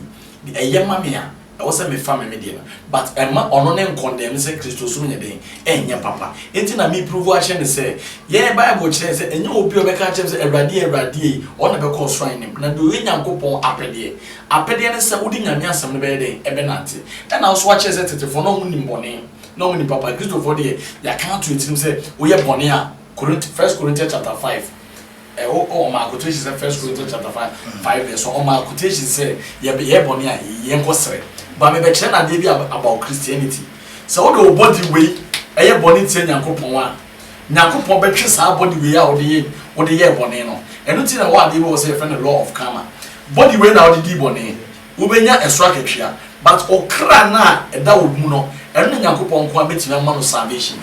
ɛyɛ ma me a, Ɛwɔ sɛ mefa me me deɛ no but ɛmma ɔno ne nkɔndɛɛm no sɛ Kristosom nyɛ den ɛnyɛ papa nti na me pruvu akyerɛ no sɛ yɛn bible kyerɛ sɛ ɛnyɛ obi a ɔbɛka akyerɛ me sɛ Awurade Awurade ei ɔno na ɛbɛkɔ ɔsoro ahenem na deɛ ɔyɛ Nyankopɔn apɛdeɛ apɛdeɛ ne sɛ wode Nyame asɛm no bɛyɛ dɛn ɛbɛnante ɛna nso wakyerɛ sɛ tetefoɔ no ɔmo nim bɔne na ɔmo nim papa Kristofoɔ deɛ yɛaka ato atirim sɛ woyɛ bɔne a First Corinthians chapter five Ɛwɔ hɔ ɔmaa quotation sɛ First Corinthians chapter five five verse one ɔmaa quotation sɛ yɛbɛ yɛ bɔne a yɛn kɔ srɛ ba mebɛ kyerɛ no adeɛ bi about Christianity sɛ wode wo body wei ɛyɛ bɔne tia Nyankopɔn a Nyankopɔn bɛtwe saa body wei a wode yɛ wode yɛɛ bɔne no ɛno nti na ɛwɔ adeɛ bi wɔ hɔ sɛ yɛfrɛ no law of karma body wei na wode dii bɔne Wobɛnya ɛso akatua. But ɔkra no a ɛda wo mu no, ɛno na Nyankopɔn nko ara bɛtumi ama no salvation.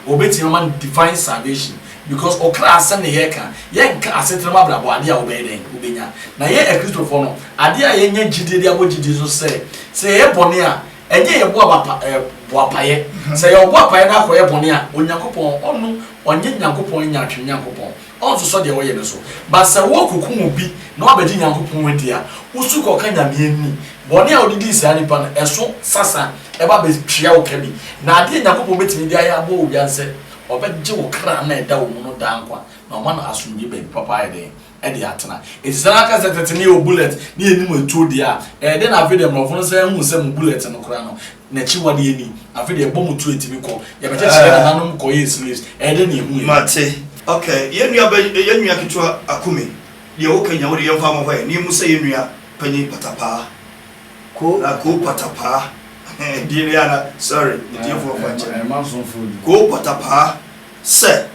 Ɔbɛtumi ama no divine salvation. Because ɔkra asɛm na yɛreka, yɛnka asetena mu abrabɔ, adeɛ a wobɛyɛ dɛn? Wobɛnya. Na yɛn Akristofoɔ no, adeɛ a yɛnya gyidie de abɔ gyidie so sɛ, sɛ yɛyɛ bɔne a, ɛnyɛ yɛ boa bapa, eh, boapaeɛ. Sɛ yɛwɔ boapaeɛ na akɔyɛ bɔne a, Onyankopɔn, ɔno, ɔnyɛ Nyankopɔn nyaatwem Nyankopɔn. Ɔnnsosɔ deɛ wɔyɛ no so. But sɛ wɔɔkokum obi na wabɛgye Nyankopɔn adi a, wosu kɔka Nyame ani. Bɔne a wode dii saa nipa no, ɛso sasa ɛba bɛtua wo ka bi. Na adeɛ a Nyankopɔn bɛtumi de ayɛ aboa obiara ne sɛ Ɔbɛgye wo kra no a ɛda wo mu no daa nkwa, na Ɔma no asomdwie baabi papa ayɛ dɛn de atena. Enti sɛ na kɛsɛtɛte ne yɛ wɔ bullet ne yɛnim atuo deɛ a, ɛyɛ dɛn na afei deɛ mmorɔfo no san ahu sɛ mo bullet no koraa no, N'akyiwade yɛ ni. Afei deɛ ɛbɔ mo tuo ɛtumi kɔ. Yɛbɛkyekyere yɛn nananom kɔyɛɛ slaves. Ɛyɛ dɛn na yɛhu yɛn. Mate. Ok, yɛn nua bɛ, yɛn nua ketewa Akume, deɛ woka nyinaa wode yɛmfa mmɔ hɔɛ, na yɛmmu sɛ yɛn nua panyin Patapaa, Ko, na Ko Patapaa, ɛhɛɛ, din no yɛ ana, sorry, me tiefoɔ mfa nkyɛ me, Ɛmma nsonfoɔ din. Ko Patapaa, sɛ,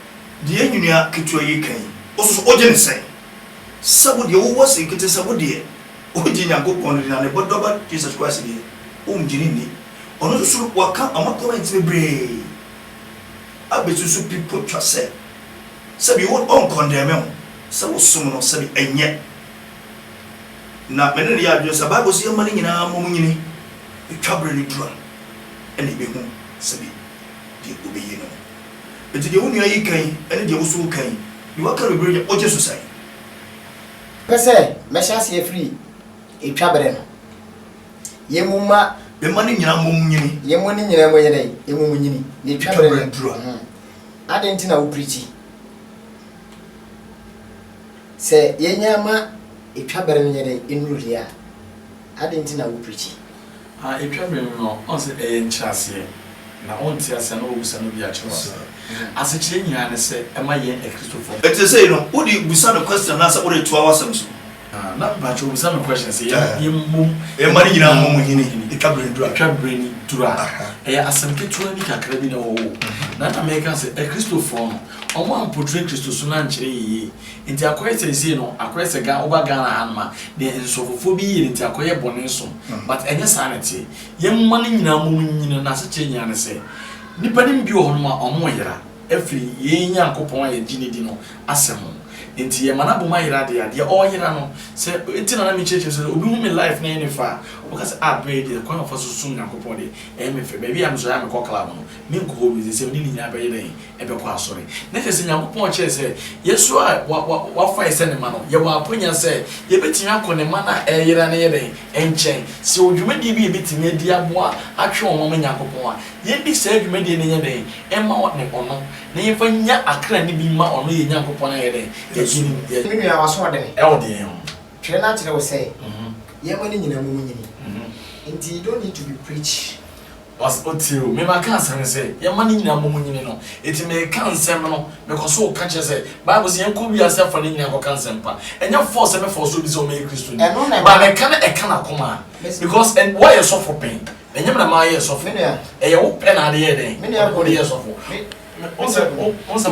deɛ yɛn nua ketewa yi reka yi, wo nso so wogye no sɛn? Sɛ wo deɛ wowɔ se nkete sɛ wo deɛ. Obi gye Nyankopɔn no di na ne Bɔdɔba Jesus Christ deɛ, ɔnngye no nni. Ɔno nso so waka ama comment bebree abɛsusu pi potwa sɛ, sɛbi wo ɔnnkɔndɛme wo sɛ wo som no, sɛbi ɛnnyɛ. Na me ne no yɛ adwene sɛ Bible se yɛmma ne nyinaa mmɔ mu nyini, ɛtwa berɛ no duru a ɛna yɛbɛhu sɛbi deɛ ɔbɛyie ne ho. Nti deɛ wo nua yi ka yi ne deɛ wo nso wo ka yi, deɛ waka no bebree deɛ wogye so sɛn? Pɛ sɛ mɛhyɛ aseɛ firi etwa berɛ no, yɛn mu mma. Yɛn mma no nyinaa mmom nyini. Yɛn mma no nyinaa mmom yɛ dɛn? Mmom nyini. Na etwa berɛ no aduru a. Adɛn nti na woprikyi? Sɛ yɛnnya ma etwa berɛ no nyɛ dɛn? Nnuru deɛ a. Adɛn nti na wopreakyi? A Etwa bere no no, ɔn sɛ ɛyɛ nkyerɛaseɛ, na ɔnte aseɛ na wobisa no bi akyerɛ aseɛ. Asekyerɛ nyinaa ne sɛ ɛma yɛn Akristofoɔ. Ɛte sei no, wode bisa no question anaasɛ woretoa w'asɛm so? Ah, na mpakyɛw bisa me question sɛ yɛn yɛmmom. Mma no nyinaa mmɔ mo hini etwa bere no duru a. Etwa bere no duru a. Ɛyɛ asɛm ketewa bi kakra bi na ɛwɔ hɔ o. Na na meka sɛ Akristofoɔ no, wɔampotre Kristosom no ankyerɛ yɛn yie. Nti akɔyɛ seisei no akɔyɛ sɛ Ghana woba Ghana ha nom a deɛ nsɔfofoɔ bi yɛ nti akɔyɛ bɔne som but ɛnyɛ saa na ɛteɛ yɛn mma no nyinaa mmom nyini no asekyerɛ nyinaa ne sɛ nnipa nom bi wɔ hɔ nom a ɔmo yera ɛfiri yei Nyankopɔn a yɛgye no di no asɛm ho nti yɛ ma no abom ayera deɛ a deɛ ɔyera no sɛ nti na na me kyerɛkyerɛ sɛ sɛ obi hu me life na ɛyɛ ne fɛ a ɔbɛka sɛ ah berɛ yi deɛ kwan a ɔfa so som Nyankopɔn deɛ ɛyɛ me fɛ baabi a me nso ɛyɛ a me kɔ club no me nkɔ hɔ bio nti sɛ me ne ne nyinaa bɛyɛ dɛn bɛkɔ asɔre. Na kyerɛ sɛ, Nyankopɔn kyerɛɛ sɛ, yɛn so a Wafa yɛn sɛ Ne mma no, yɛwɔ akwannya sɛ yɛbɛtumi akɔ Ne mma no a ɛreyera no yɛ dɛn? nkyɛn. Sɛ yɛwɔ dwumadie bi a yɛbɛtumi adi aboa atwe wɔn ama Nyankopɔn a, yɛndi saa dwumadie no nyɛ dɛn? mma wɔne Ɔno, na yɛmfa nnya akra no bi mma Ɔno yɛn Nyankopɔn ayɛ dɛn? Yɛn. Me nua, w'asoɔden. Wɔ deɛn ho? Twerɛ no akyerɛ wo sɛ, Yɛn mma no nyinaa momu nyini, nti you don't need to be preach. Ɔse otie o, mema ka asɛm ne sɛ yɛmma ne nyinaa mmɔ mu nyini no, enti meka nsɛm no, mekɔ so ka kyerɛ sɛ Bible se yɛnkɔ wiase afa no nyinaa kɔka nsɛmpa, ɛnyɛ force sɛ me force obi sɛ ɔmmɛyɛ Kristoni, but meka no ɛka n'akoma a, because ɛn woayɛ sɔfo pɛn, ɛnyɛ me na mayɛ sɔfo, ɛyɛ wo pɛ na ade yɛɛ dɛn, wode yɛɛ sɔfo, wohu sɛ, wohu sɛ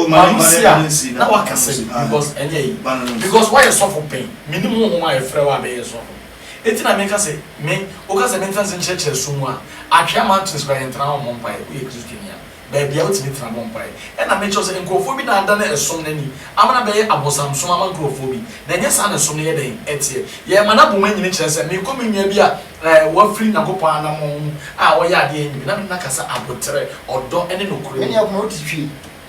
m'ayusie a na woakasa bi, because ɛnyɛ yi, because woayɛ sɔfo pɛn, menim honhom a ɛfrɛ wo a bɛyɛ sɔfo. Enti na meka sɛ, Me, woka sɛ mentena ase nkyerɛkyerɛ sum mu a, Atwea Mountains koraa yɛntena hɔ mmɔ mpaeɛ, woyɛ Kristoni a, baabi a wotumi tena bɔ mpaeɛ. Ɛnna mekyerɛ wo sɛ, nkurɔfoɔ bi na adane ɛsom no ani ama no abɛyɛ abosamsom ama nkurɔfoɔ bi, na ɛnyɛ saa na ɛsom no yɛ dɛn? teɛ. Yɛrema no abɔ mu anyini kyerɛ sɛ, Mekɔ me nua bi a ɛɛ wafiri Nyankopɔn anammɔn mu a ɔyɛ adeɛ a ɛnyɛ bi, na me ne no akasa aboterɛ, ɔdɔ, ne nokorɛ mu. Ɛnneɛ, koma wo titire,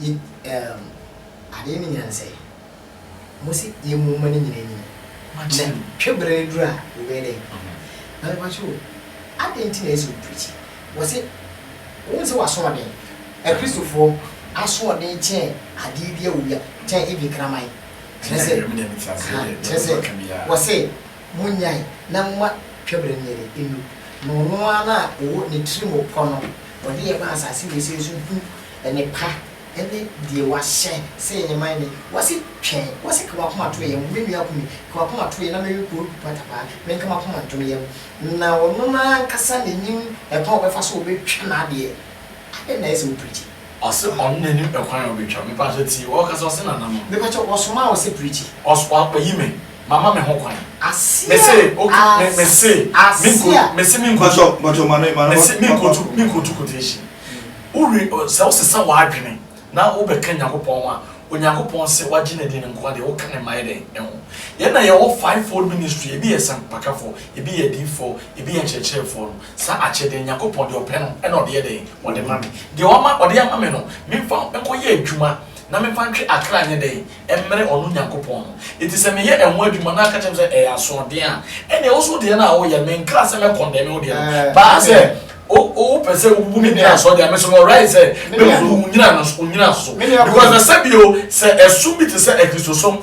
Yi erm adeɛ no nyansa yi. Mo se yɛ mo mma no nyina nie. Nɛ twe bere no duru a wo bɛyɛ dɛn? Na me pakyɛ o adɛn nti na ɛsɛ wo preachi? Wɔ se wo nsɛ w'asoɔden? Akristofoɔ asoɔden kyɛn adeɛ biara wɔ wia kyɛn even kraman. Kyerɛ sɛ ahaa kyerɛ sɛ wɔ se Monnyae na momma twabere no yɛn nnu, na ɔno ara no a ɔwɔ ne tirim pɔ no, ɔde yɛn ma asase wesee so hu nnepa ne deɛ wahyɛ sɛ yɛnyɛ ma ne, wɔse, Twɛn, wɔse, ka w'akoma to yɛn ho, me nua Kumi, ka w'akoma to yɛn na mewe Koodu Patapaa, menka m'akoma ntom yɛn, na ɔno no ara ankasa na ɛnim ɛkwan a ɔbɛfa so a ɔbɛtwa n'adeɛ, adɛn na ayɛ sɛ wopreakyi? Ɔse ɔno na nim ɛkwan a ɔbɛtwa. Me paatɔ tie wo ɔkasa ɔse nana ma. Mepakyɛw wɔsomaa wo sɛ preachi. Ɔs wayi me mama me ho kwan. Aseɛ Me se ok me me se ass me nko aseɛ. me se me nkotu Mpakyɛw mpakyɛw ma no ma no me se me ma ma nkotu me nkotu quotation. Wo re ɔ sɛ wo sesa w'adwene na wo bɛka Nyankopɔn ho a, Onyankopɔn se wagye ne deɛ no nko a deɛ woka no mmayɛ dɛn ɛho. Yɛn na yɛwɔ five fold ministry ebi yɛ sampakafɔ, ebi yɛ adiyifoɔ, ebi yɛ nkyerɛkyerɛfoɔ no. Saa akyɛde no, Nyankopɔn, deɛ Ɔpɛ no na Ɔde yɛ dɛn? Ɔde ma me. Deɛ Wama, Ɔde ama me no, memfa nkɔyɛ adwuma, na memfa ntwe akra nyɛ dɛn? Mmrɛ Ɔno Nyankopɔn no. Enti sɛ meyɛ ɛho adwuma, na aka kyerɛ me sɛ ɛyɛ asoɔden a, ɛnneɛ wo nso wo deɛ no a woreyɛ no, menkra sɛ mɛkɔndɛme wo deɛ no. Baa sɛ wo, wopɛ sɛ wobubu me nnyina soɔ deɛ a, me nso mewrɛe sɛ mɛbubu wo nnyina no, wo nnyina so. Because na sɛbio, sɛ ɛsom bi te sɛ Akristosom,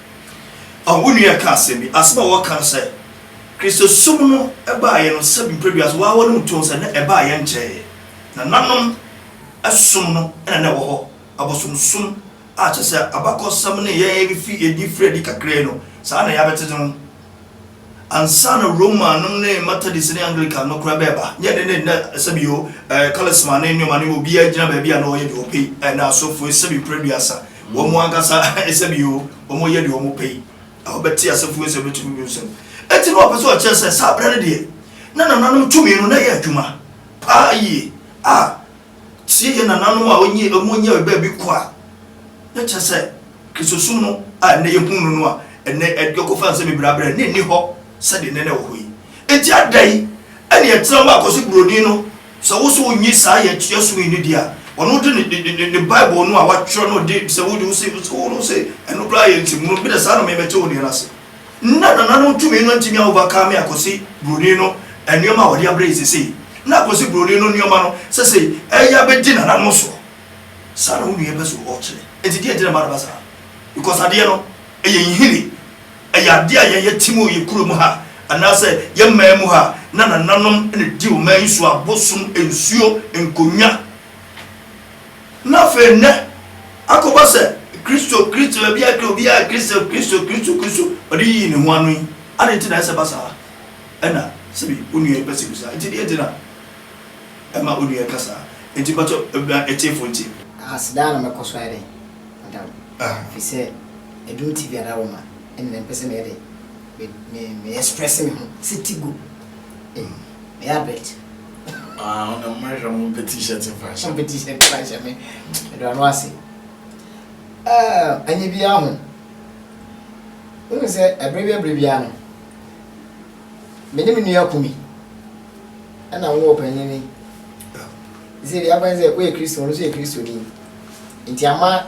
Ɔwofo nua ka asɛm bi, Asɛm a wɔka no sɛ Kristosom no baeɛ no sɛ mprɛduase wɔawɔ no mu too no sɛ na ɛbaeɛ nkyɛeɛ. Nananom som no na na ɛwɔ hɔ, abosomsom a kyerɛ sɛ abakɔsɛm nneyɛeɛ no fi adi firi adi kakraa yi no, saa na yɛabɛtete no ansa na Roma nom ne Methodist ne Anglican no koraa bɛɛba. Nyɛ ne ne nnɛ sɛbi o ɛɛ Charisma ne nnoɔma no obiaa gyina baabi a na ɔyɛ deɛ ɔpɛ yi ɛna asɔfoɔ sɛbi mprɛduasa wɔn ankasa sɛbi o wɔn yɛ deɛ wɔn pɛ yi a ɔbɛte asɔfoɔ nsɛm bɛtu no nsɛm ɛti na ɔpɛ sɛ ɔkyerɛ sɛ saa berɛ no deɛ na nananom tumi no na ɛyɛ adwuma paa yie a Tsie hɛn nananom a onyi a wonyia beebi kɔ a na kyerɛ sɛ Kristosom no a ndɛ yehu no no a ndɛ yɛkɔfa nsɛm beberee abrɛ no nnyi hɔ sɛdeɛ ndɛ na ɛwɔ hɔ yi. Ntsi adɛn na yɛtsena hɔ akɔse Buroni no sɛ wo so onnyi saa yɛ tsia som yi no dzi a ɔno dze ne ne ne ne Bible no a ɔatwerɛ no dze sɛ wode wose wose ɛno koraa yɛ nsɛmunu bi dɛ saa na memete wo deɛ no ase. Nna nananom tumi no ntumi a overcome Akosey Broni no nnoɔma a wɔde abrɛ yɛ sesei. Nna Akosey Broni no nnoɔma no sesei ɛyɛ a bɛdi nananom soɔ. Saa na wo nua yi pɛ sɛ ɔkyerɛ. Nti deɛ nti na ɛma no ba saa? Because adeɛ no ɛyɛ nhini. Ɛyɛ adeɛ a yɛn yɛte mu wɔ yɛn kuro mu ha anaa sɛ yɛn man mu ha a na nananom na ɛdi ɔman yi so a bosom, nsuo, nkonnwa, Na afei nnɛ, akɔba sɛ Kristo, Kristo, baabi a obiara Kristo, Kristo, Kristo, Kristo, ɔde yiyi ne ho ano yi, adɛn nti na ɛsɛ ba saa? Ɛna sɛbi onua yi pɛ sɛ obisa, Nti deɛ nti na ɛma onua yi ka saa? Nti mpakyɛw, ma atiefo ntie. Ahas daa na mɛkɔ so ayɛ dɛn ada wo? Ɛfiri sɛ adum ti biara da wo ma, ɛnna mempɛ sɛ meyɛ dɛn? me me me express me ho sɛ ti gu mm meyɛ abet ah wo na mma hwɛ mo mpɛ t-shirt mfa nhyɛ mpɛ t-shirt mfa nhyɛ me ɛdɔ ano ase ɛnyɛ biara ho wohu sɛ ɛberɛ bi ɛberɛ biara no me ne me nua kumi ɛna wo wɔ panyin ni sɛ deɛ akwan sɛ woyɛ kristo no so yɛ kristo ni nti ama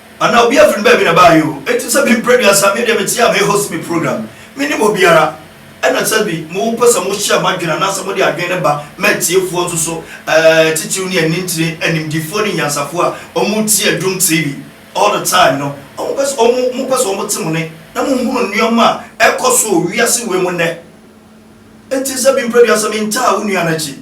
Anaa obi afiri baabi na baayɛ o enti sɛ mempere aduasa medeɛ mete a me host me program menim obiara ɛna sɛbi mo mpɛ sɛ mo share moadwene anaasɛ mode adwene no ba ma atiefoɔ nso so ɛɛ titiriw ne anintire animdifoɔ ne nyansafoɔ a ɔmo tie adum TV all the time no ɔmo pɛ sɛ ɔmo mo pɛ sɛ ɔmo te mo ne na mo hunu nnoɔma a ɛkɔ so wɔ wiase wei mu nnɛ. Enti sɛ me mprɛdua sɛ mentaa wo nua no akyi.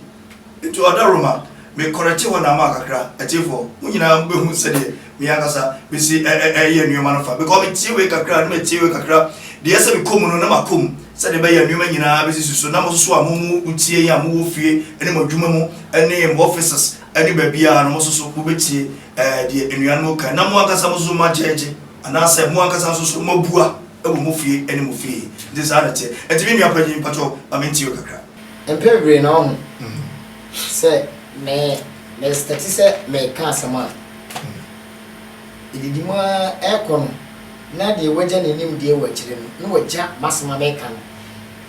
Enti ɔda Rome a, me kɔrɛkye hɔ na ama kakra. Atiefoɔ, mo nyinaa mo bɛhu sɛdeɛ me ankasa me si ɛ ɛ ɛyɛ nnoɔma no fa, because me tie wei kakra na matie wei kakra deɛ ɛsɛ me kɔ mu no na makɔ mu, sɛdeɛ ɛbɛyɛ a nnoɔma nyinaa bɛsisi so, na mo nso a mo mo mo tie yɛn a mo wɔ fie ne mo adwuma mu ne mo offices ne baabiara no mo nso so mo bɛtie ɛ ɛ deɛ anuanom kan na mo ankasa mo nso mo agyɛgye. Anaasɛ mo ankasa nso so moabua wɔ mo fie ne mo fie? Enti saa na ɛteɛ. Enti me nua panyin, mpakyɛw ma mintie wo kakra. Mpɛn bebree na woahu sɛ me, mekate sɛ mereka asɛm a edidi mu ara ɛrekɔ no, na deɛ wagya ne nimdeɛ wɔ akyire no, na wagya m'asɛm a mereka no.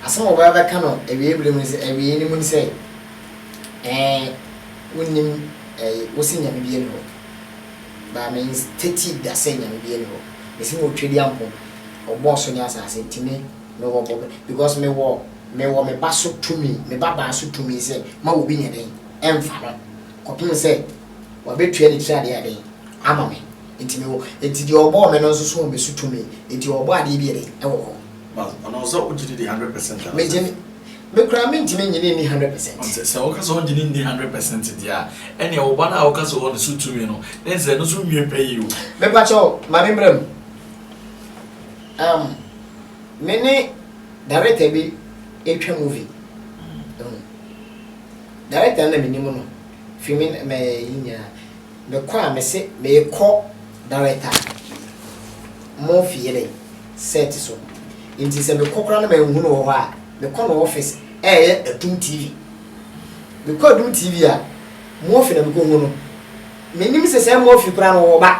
Asɛm a ɔbɛba abɛka no awiei bere mu ne sɛ, awiei no mu ne sɛ, Ɛɛ, wonnim, ɛɛ, wose Nyame biara nni hɔ. na me ntetee da sɛ Nyame biaa nni hɔ. Mese mo Twedeɛ nko, ɔbɔɔ so ne asaase nti me me wɔ bɔbe because me wɔ me wɔ me ba so tumi, me ba baa so tumi sɛ ma obi nyɛ dɛn ɛnfa no kɔpem sɛ wabɛtua ne tiri adeɛ ayɛ dɛn ama me nti me wɔ nti deɛ ɔbɔɔ me no nso so wɔ me so tumi nti ɔbɔ adeɛ bi yɛ dɛn ɛwɔ hɔ. Ma ɔno sɛ wogye no di hundred percent anaa? Megye no, me koraa mentumi nnye no nni hundred percent. Ɔn sɛ, sɛ woka sɛ wongye no nni hundred percent deɛ a, ɛnneɛ wo ba no a woka sɛ ɔwɔ no so tumi no, na ɛsɛ sɛ ɛno nso nwie pɛ yie o. Mepa kyɛw, ma me mmra mu. Um, me ne director bi retwa movie. Director no na menim no, fi me, me yi nyinaa. Me kɔ a mese meekɔ Director mo fie ne set so nti sɛ mekɔ koraa na manhu no wɔ hɔ a mekɔ no office ɛɛyɛ Adum TV. Mekɔ Adum TV a Murphy na mekɔ hu no. Mennim sɛ sɛ Murphy koraa no ɔɔba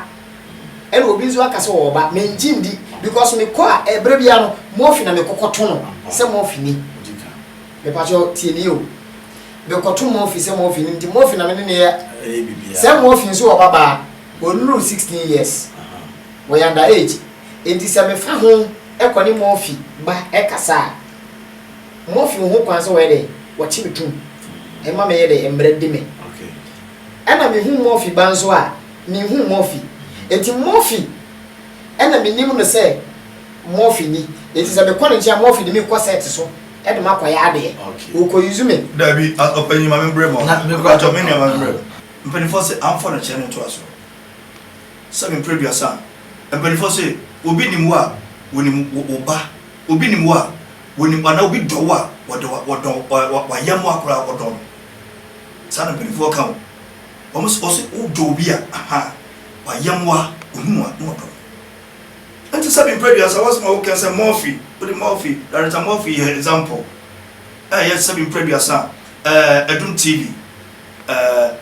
ɛna obi nso aka sɛ ɔɔba mengye ndi because mekɔ a ɛberɛ biara no Murphy na mekɔ kɔto no sɛ Murphy ni. Mepakyɛ wo, tie me o. Mekɔto Murphy sɛ Murphy nim nti, Murphy na me ne no yɛ. Ɛyɛ biribiara. Sɛ Murphy nso wɔ babaa, ɔnnuru 16 years. Ɔyɛ under age. Enti sɛ mefa ho kɔ ne Murphy ba kasa a, Murphy wɔ ho kwan sɛ ɔyɛ dɛ, ɔkye me tom. Ɛmma meyɛ dɛ, mmara di me. Ɛna mehu Murphy ba nso a, menhu Murphy. Enti Murphy. ɛna menim no sɛ Murphy ni enti sɛ mekɔ ne nkyɛn a Murphy de me kɔ set so de makɔyɛ adeɛ. Ɔkɔ use me. Dabi, ɔpanyin ma me brɛ ma ɔno. Mpakyɛw me nua ma me brɛ. Mpaninfoɔ se amfa no kyɛ no ntoa so. Sɛ me mpere aduasa a, mpaninfoɔ se obi nim wo a wɔnim wo ba, obi nim wo a wɔnim anaa obi dɔ wo a wɔdɔ wɔdɔ wayɛm wo a koraa wɔdɔ no. Saa na mpaninfoɔ ka o. Wɔn se wɔse wodɔ obi a, ahaa, wayam wo a, ohunu wo a, na ɔdɔ wo. Ɛnte sɛ me mprɛdua saa w'asɛm a wokɛn sɛ Murphy, wode Murphy, Director Murphy yɛ example a ɛyɛ sɛ me mprɛdua sa a, ɛɛ, Adum TV, ɛɛ,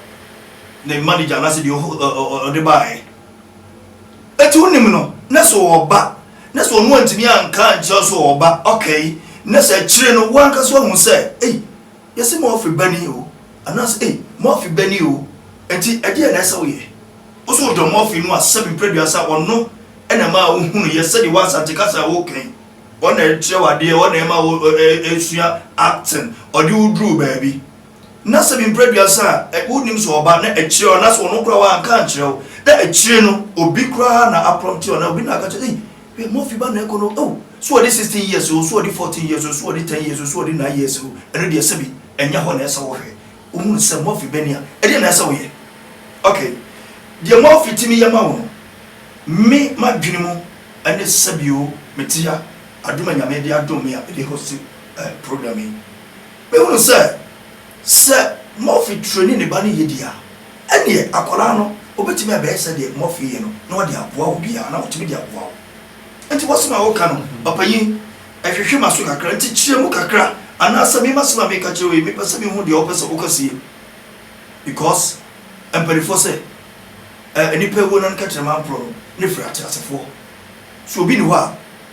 ne manager anaasɛ deɛ ɔho, ɛ, ɔ, ɔ, ɔde baeɛ. Ɛti wonim no, na sɛ ɔwɔ ba, na sɛ ɔno antumi anka ankyerɛ wo sɛ ɔwɔ ba, okay, na sɛ akyire no, wo ankasa woahu sɛ, ei, Yɛse mo afe bɛn ni oo, anaase ei, mo afe bɛn ni oo, enti ɛdeɛn na ɛsɛ woyɛ? Wo so wodɔ mo afe no a sɛbi prɛduasa ɔno na ɛmaa wo hunuiɛ sɛdeɛ wo Asante kasa a woka yi, ɔno na ɛkyerɛ wo adeɛ, ɔno na ɛma wo sua acting, ɔde wo duruu baabi. Na sɛbi prɛduasa a wonim sɛ ɔba na akyire anaase ɔno koraa wanka ankyerɛ wo, na akyire no obi koraa na aprɔmte wo anaa obi na aka kyerɛ wo sɛ ei, Hwɛ Murphy ba na ɛkɔ no oh So ɔde sixteen years o, so ɔde fourteen years o, so ɔde ten years o, so ɔde nine years o, ɛno deɛ sɛbi ɛnyɛ hɔ na ɛsɛ wo hwɛ Wo hunu sɛ Murphy bɛni a, ɛdeɛn na ɛsɛ wo yɛ? Ok, deɛ Murphy tumi yɛ ma wo no, me m'adwene mu ɛne sɛbi o me te ha, adom a Nyame de adom me a me de host eh program yi, me hunu sɛ. Sɛ Murphy ture ne ne ba no yiyedi a, ɛnneɛ akwadaa no, ɔbɛtumi abɛyɛ sɛdeɛ Murphy yɛ no na ɔde aboa obiara, anaa ɔtumi de aboa wo. Enti w'asɛm a woreka no, ɔpanyin, hwehwe m'aso kakra, nti kyerɛ mu kakra, anaasɛ me m'asɛm a mereka kyerɛ wo yi, mepɛ sɛ mehu deɛ wopɛ sɛ woka sie, because mpaninfoɔ sɛ, Ɛ, nnipa awuo nan kɛtrɛma mporɔ no, ne firi ateasefoɔ. So obi nni hɔ a.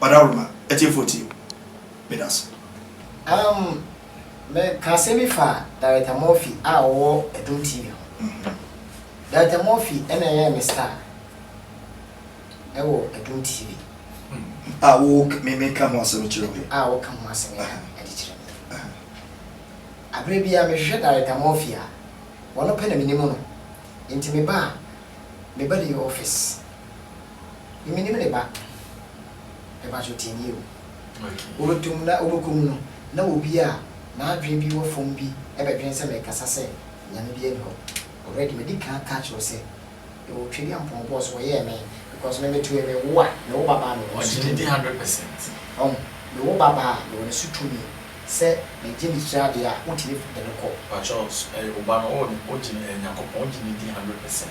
ɔdaworo ma atiefoɔ tie o. Medase. Um, me ka asɛm bi fa Director Murphy a ɔwɔ Adum TV ho. Director Murphy na ɛyɛɛ me star ɛwɔ Adum TV. A wo me me ka ho asɛm kyerɛ wo yi. A wo ka ho asɛm yi ɛde kyerɛ me yi. Abere bi a me hwehwɛ Director Murphy a, wɔn pɛ na me nim no. Nti me ba a, me ba de yɛ office. Menim ne ba. Ɛba so tie nie o. Wɔbɛtom na wɔbɛkɔ mu no, na obi a n'adwene bi wɔ fam bi bɛdwene sɛ merekasa sɛ Nyame biara nni hɔ. Already madi kan aka kyerɛ wo sɛ mewɔ Twedeampɔn bɔs so, wɔyɛɛ me because me me toe me wo a, me wo babaa a mewɔ ne so tumi. Ɔgye ne din hundred percent. Wahu? Me wo babaa a mewɔ ne so tumi sɛ megye ne tiri adeɛ a, wotumi de no kɔ. Pakyɛw, wo ba no, wogye no, Nyankopɔn, wogye ne din hundred percent?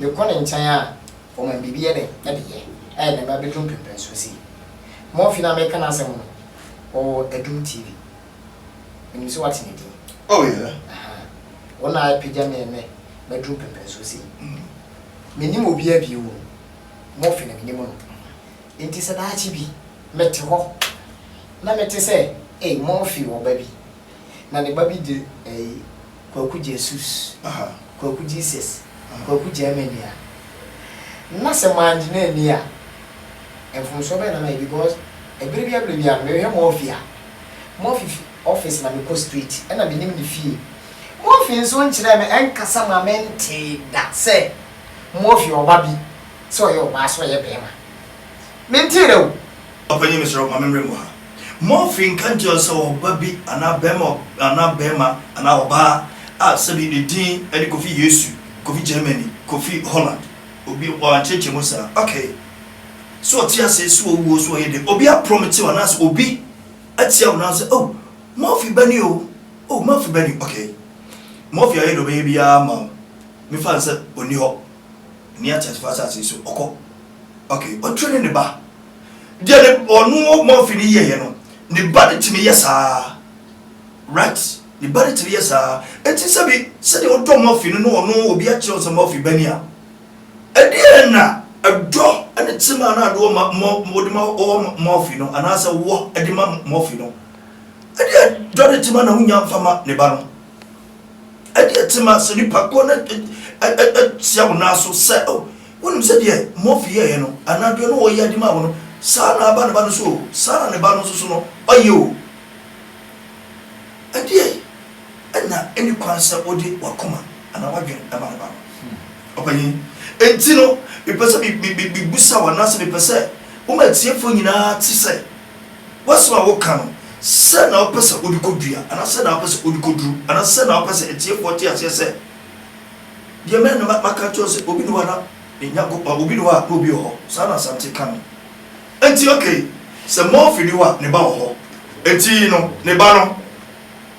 Mekɔ ne nkyɛn a, ɔma me biribi de de yɛ. Ɛyɛ dɛn a, bɛduru mpremprensoɔ sei. Murphy no a mereka n'asɛm no, ɔwɔ Adum TV. Menim sɛ woate ne din. Oh, yeah. Ahaa. Wo na apagya me ɛnnɛ maduru mpremprensoɔ sei. Mennim obiara bio o, Murphy na menim no. Enti sɛ daakye bi mete hɔ na mete sɛ, ei, Murphy wɔ ba bi, Na ne ba bi de ɛyi, Kwaku Jesus, Kwaku Jesus, Kwaku Germany a, na sɛ mannye no anni a, mfomsoɔ bɛn na mayɛ because ɛberɛ biara berɛ biara no, mehwɛ Murphy a, Murphy fi office na mekɔ straight, ɛna menim ne fie. Murphy nso nkyerɛɛ me, ɛnkasa maa mentee da sɛ Murphy ɔba bi, sɛ ɔyɛ ɔbaa sɛ ɔyɛ barima. Mentseerɛ wo. Ɔpanyin meserɛ wo ma menwɛn wɔ ha. Murphy nka nkyerɛ sɛ ɔba bi anaa barima anaa barima anaa ɔbaa a sɛbi ne din ne Kofi Yesu, Kofi Germany, Kofi Holland. Obi wɔankyerɛkyerɛ mu saa. Okay. Sɛ ɔte ase, sɛ owu o, sɛ ɔyɛ dɛn, obi aprɔmte wo anaasɛ obi atia wo nan sɛ, Oh, Murphy ba ni o, oh, Murphy ba ni. Okay. Murphy ayɛ deɛ ɔbɛyɛ biara ama wo. Mefa no sɛ ɔnni hɔ. Nni ateasefo asase so. Ɔkɔ. Okay. Ɔtwe ne ne ba. Deɛ ne ɔno Murphy no yɛeɛ no, ne ba no tumi yɛ saa ara. Right? Ne ba no tumi yɛ saa ara. Enti sɛbi, sɛdeɛ wodɔ Murphy no na ɔno obi akyerɛ wo sɛ Murphy ba ni a, ɛdeɛn na ɛdɔ ne tema a na ade wɔ ma, mɔ, wode ma wɔ ma Murphy no, anaasɛ wɔ de ma Murphy no, ɛdeɛn dɔ ne tema na wonya mfa ma ne ba no? Ɛdeɛ te ma sɛ nipa korɔ no tia wo nan so sɛ oh wonim sɛ deɛ Murphy yɛeɛ no anaa deɛ ɔno ɔyɛɛ de maa wo no saa ara na aba ne ba no so o, saa ara na ne ba no nso so no ɔyɛ o. Ɛdeɛn na ɛnni kwan sɛ wode w'akoma anaa w'adwene ma ne ba no? Ɔpanyin, Enti no mepɛ sɛ mebisa wo anaasɛ mepɛ sɛ woma atiefoɔ nyinaa te sɛ. W'asɛm a woka no, sɛn na wopɛ sɛ wode kodua, anaa sɛn na wopɛ sɛ wode koduru, anaa sɛn na wopɛ sɛ atiefoɔ te aseɛ sɛ deɛ me na maka akyerɛ wo sɛ obi ne hɔ a na ne Nyankopɔn, obi ne hɔ a na obi wɔ hɔ? Saa na Asante ka no. Enti okay, sɛ Murphy ne hɔ a, ne ba wɔ hɔ. Enti no, ne ba no,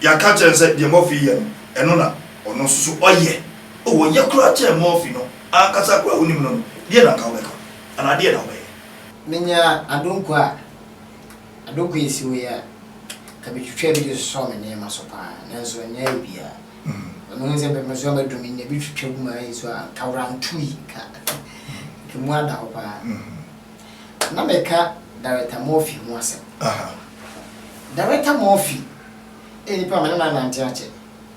yɛaka akyerɛ no sɛ deɛ Murphy yɛ no, ɛno na ɔno nso so ɔyɛ. Oh, ɔyɛ koraa kyɛn Murphy no ankasa koraa a wonim no no, deɛn na anka wobɛka? Anaa deɛn na wobɛyɛ? Menyaa adonko a adonko a esi hɔ yi a, nka mitwitwaa bi de sosɔɔ me nneɛma so paa, nanso ɛnyɛ ayɛ biara. Na mihu sɛ mepɛ so a madu me nya bi twitwa gu m'ayɛ so a, nka worantui, nka nka mu ada hɔ paa. Na meka Director Murphy ho asɛm. Director Murphy yɛ nipa a me ne no anante akyɛ.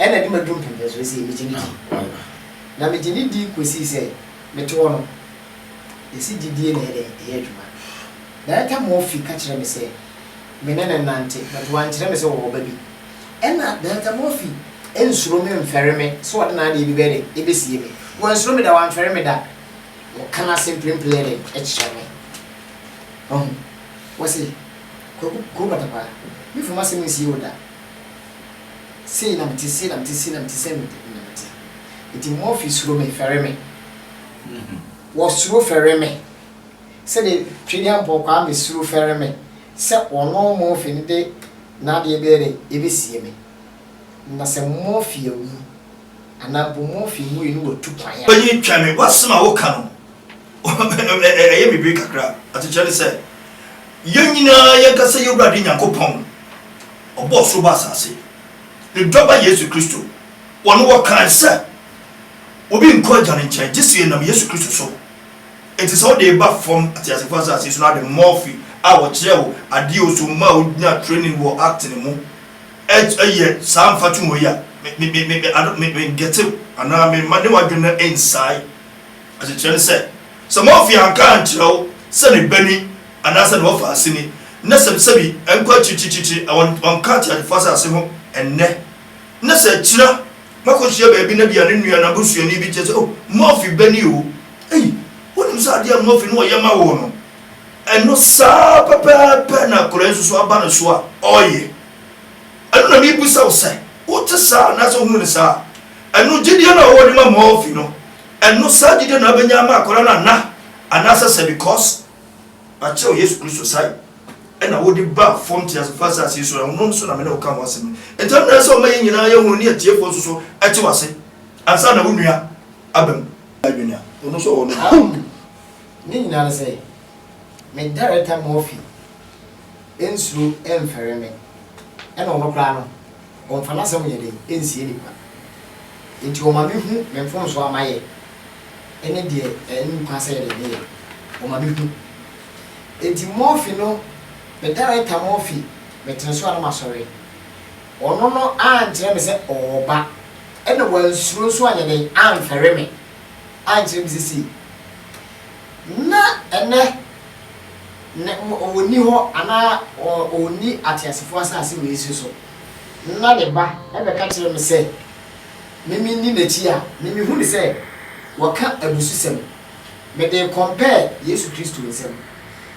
Ɛnna de madu mpontoaso no sei, megye no di. Na megye no di kɔsii sɛ mete hɔ no. Yɛse gyedie na ɛyɛ dɛn? Ɛyɛ adwuma. Director Murphy ka kyerɛɛ me sɛ me ne no nnante, but wankyerɛ me sɛ ɔwɔ ba bi. Ɛnna Director Murphy nsuro me mfɛre me sɛ ɔde n'adeɛ bi bɛyɛ dɛn? Ɛbɛsie me. Wansuro me da, wamfɛre me da. Ɔka n'ase mprempren yɛ dɛn? Kyerɛ me. Wahu? Wɔse, Kwaku, Kuro Patakwaa, memfa m'asɛm nsie wo da. Sei na mete, sei na mete, sei na mete, sei na mete. Enti Murphy suro me, fɛre me. Wɔsuro fɛre me sɛdeɛ Twene Ampɔn Kwame suro fɛre me sɛ ɔno Murphy no de n'adeɛ bɛyɛ dɛn, ɛbɛsie me. Na sɛ Murphy awu. Anaa bu mu afi mu yi no watu kwan a. Panyin twɛn me, w'asɛm a woka no ɛyɛ me bere kakra, asekyerɛ ne sɛ, yɛn nyinaa yɛnkasa yɛn Wurade Nyankopɔn, ɔbɔɔ soro bɔ asase, ne dɔ ba Yesu Kristo, ɔno wɔkae sɛ obi nkɔ agya no nkyɛn gye sɛ ɛnam Yesu Kristo so, enti sɛ wode ba fam ateasefo asase so no ade Murphy a ɔkyerɛw adeɛ o so mmaa ɔnyaa training wɔ acting mu. Ɛ ɛ yɛ saa mfatoho yi a, me me me me ado me me nkɛte wo anaa me mma ne w'adwene no nnsae. Asekyerɛ ne sɛ, sɛ Morphy anka ankyerɛ wo sɛ ne ba ni anaa sɛ ne wɔfa ase ni, na sɛ sɛbi ɛnkɔ akyirikyirikyirikyiri a wɔn wɔnka ateadefo asase ho ɛnnɛ, na sɛ akyira moakɔhyia baabi na bia ne nua anaa busuani bi kyerɛ sɛ, Oh, Morphy ba ni o. Ei, wonim sɛ adeɛ a Morphy ne ɔyɛ ma wo no? Ɛno saa pɛpɛɛpɛ na akwadaa yi nso so aba no so a ɔreyɛ. Ɛno na mebisa wo sɛ, wote saa anaasɛ wohu no saa? Ɛno gyedie no a ɔwɔ de ma Murphy no, ɛno saa gyedie na wobɛnya ama akwadaa no ana? Anaasɛ sɛ because wɔakyerɛ wo Yesu Kristo sae ɛna wode baa fam teasefo asase yi so, ɛno nso na me ne wo ka ho asɛm yi. Nti ɛno na ɛsɛ sɛ ɔma yɛn nyinaa yɛhunu ne atiefoɔ nso so te wo ase ansa na wo nua aba mu. Adwene a ɔno nso ɔwɔ no. Ne nyinaa ne sɛ, me Director Murphy nsuro mfɛre me, ɛna ɔno koraa no, ɔmfa n'asɛm nyɛ dɛn nsie nnipa. Enti ɔma me hu me mfomsoɔ a mayɛ ɛne deɛ ɛnni kwan sɛ yɛde meyɛ, ɔma me hu. Enti Murphy no, me Director Murphy, metene so a na masɔre. Ɔno no ankyerɛ me sɛ ɔɔba, ɛna wansuro nso anyɛ dɛn amfɛre me. ankyerɛ me sesei, na ɛnnɛ ne ɔnni hɔ anaa ɔnni ateasefoɔ asase wei so so, na ne ba bɛka kyerɛ me sɛ me menni n'akyi a, me mehu no sɛ wɔka abususɛm. Mede kɔmpɛɛ Yesu Kristo nsɛm.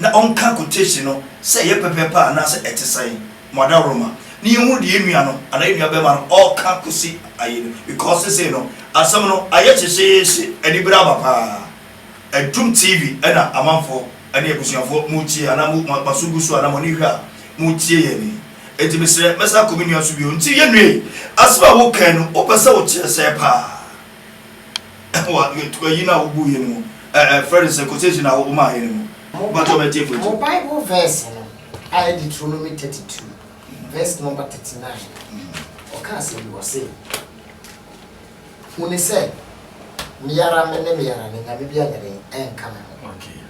na ɔnka quotation no sɛ ɛyɛ pɛpɛɛpɛ a anaasɛ ɛte sɛn, mo adaworoma, na yɛnhunu deɛ yɛn nua no anaa yɛn nua barima no ɔreka kɔsi ayi no, because sesei no asɛm no ayɛ hyehyeehye, anibere aba paa, adum TV na amanfoɔ ne abusuafoɔ moretie anaa mo mo aso gu so anaa mo ani hwɛ a moretie yɛn yi, enti mesrɛ mɛsan akɔ me nua so bio, nti yɛn nua yi, asɛm a wokae no wopɛ sɛ wokyerɛ sɛn paa? wɔ tukwayi no a wobuu yɛn mu, ɛ ɛ frɛ no sɛ quotation a womaa yɛn no mu. Mpakyɛw m'atiefo yi. Mo Bible verse no a ɛyɛ Deuteronomy thirty two verse number thirty nine ɔka asɛm bi ɔse, Huni sɛ me ara me ne me ara ne Nyame biara nyɛ dɛn ɛnka me ho. Okay.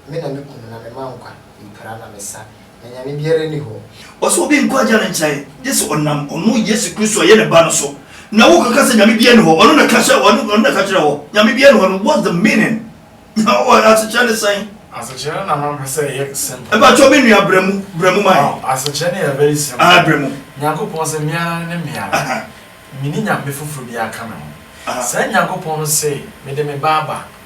Me na meku no na mema nkwa, mepira na mesa, na nyame biara nni hɔ. Ɔse obi nkɔ Agya no nkyɛn, gye sɛ ɔnam ɔno Yesu Kristo a ɔyɛ ne ba no so, na wokɔka sɛ nyame biara nni hɔ, ɔno na ka sɛ ɔno na ka kyerɛ wɔ, nyame biara nni hɔ no, what's the meaning? Asekyerɛ ne sɛn? Asekyerɛ no na mampɛ sɛ ɛyɛ simple. Mpakyɛw me nua brɛ mu, brɛ mu ma yɛn. Ɔh, asekyerɛ no yɛ very simple. Ahaa, brɛ mu. Nyankopɔn se me ara ne me ara, menni nyame foforo biara ka me ho. Saa Nyankopɔn no se mede me ba aba,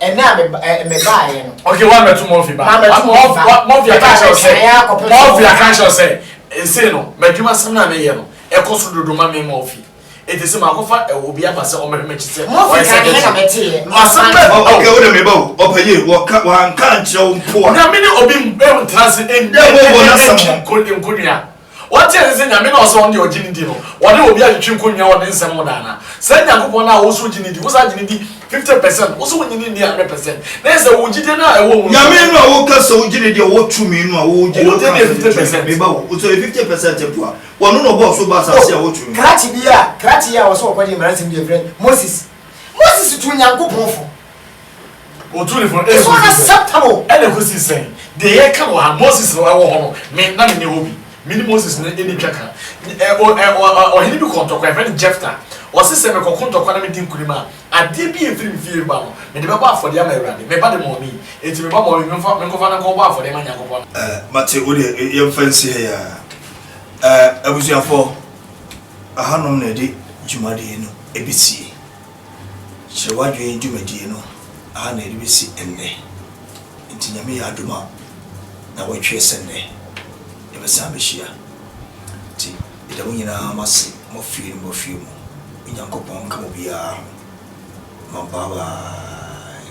ɛnɛ a meba ɛ mebaeɛ no. Okay wa mɛto mɔfi ba. Ma mɛto mɔfi ba. Mɔfi aka kyerɛ sɛ. Mɔfi aka kyerɛ sɛ. Ese no madwuma sɛm na meyɛ no ɛkɔ so dodo ma me mɔfi. Ete se makɔfa obi aba sɛ ɔmɛhwɛ m'akyi sɛ. Mɔfi ka ne na mɛteɛ. Masɛm bɛ. Okay wo de meba o. Ɔpɛyie wɔka wanka nkyerɛ wo mpo a. Na mene obi ntra se. Dɛ bɔ bɔ na sɛm ho. Nkonua. Wɔnte ase sɛ Nyame na ɔsɛ wɔn deɛ ɔgye no di no, wɔne obi atwetwe nkonnwa wɔ ne nsɛm ho da anaa? Saa Nyankopɔn no a wonso gye no di, wonso agye no di 50 percent, wonso wonnye no nni 100 percent, na ɛyɛ sɛ wo gyidie no a ɛwɔ mu no. Nyame no a woka sɛ wogye no di a ɔwɔ tumi no a wogye no kra sɛ ne tumi, meba wo, wosɛ ɔyɛ 50 percent mpo a, ɔno na ɔbɔɔ soro bɔɔ asase a ɔwɔ tumi. Krakye bi a, krakye yi a ɔsɛ ɔkɔgye mmaransɛm deɛ frɛ Moses. Moses tuu Nyankopɔn fo, It's unacceptable. Ɛna ɛkɔsi sɛn? Deɛ yɛka wɔ ha, Moses no ɛwɔ hɔ no, me na me ne hɔ bi. Me ne Moses no ɛni twa ka. Ɔhene bi kɔ ntɔkwa, yɛfrɛ no Jefta. Ɔse sɛ mekɔko ntɔkwa na medi nkunim a, adeɛ bi a ɛfiri me fie reba no, mede bɛbɔ afɔdeɛ ama Awurade. Me ba de mɔɔ me yi, enti me ba mɔɔ me, menkɔfa no nkɔbɔ afɔdeɛ ma Nyankopɔn anaa? Mate, wodeɛ yɛmfa nsi ha yi ara. Abusuafoɔ, ɛhanom na yɛde dwumadie no bɛsie. Kyerɛ w'adwene dwumadie no ara na yɛde bɛsi nnɛ. Nti Nyame yɛ adom a na wɔatwerɛ sɛ nnɛ yɛbɛsan abɛhyia. Nti meda mo nyinaa mo ase mo fie ne mo fie mu. Onyankopɔn nka mo biara ho. Mabawai.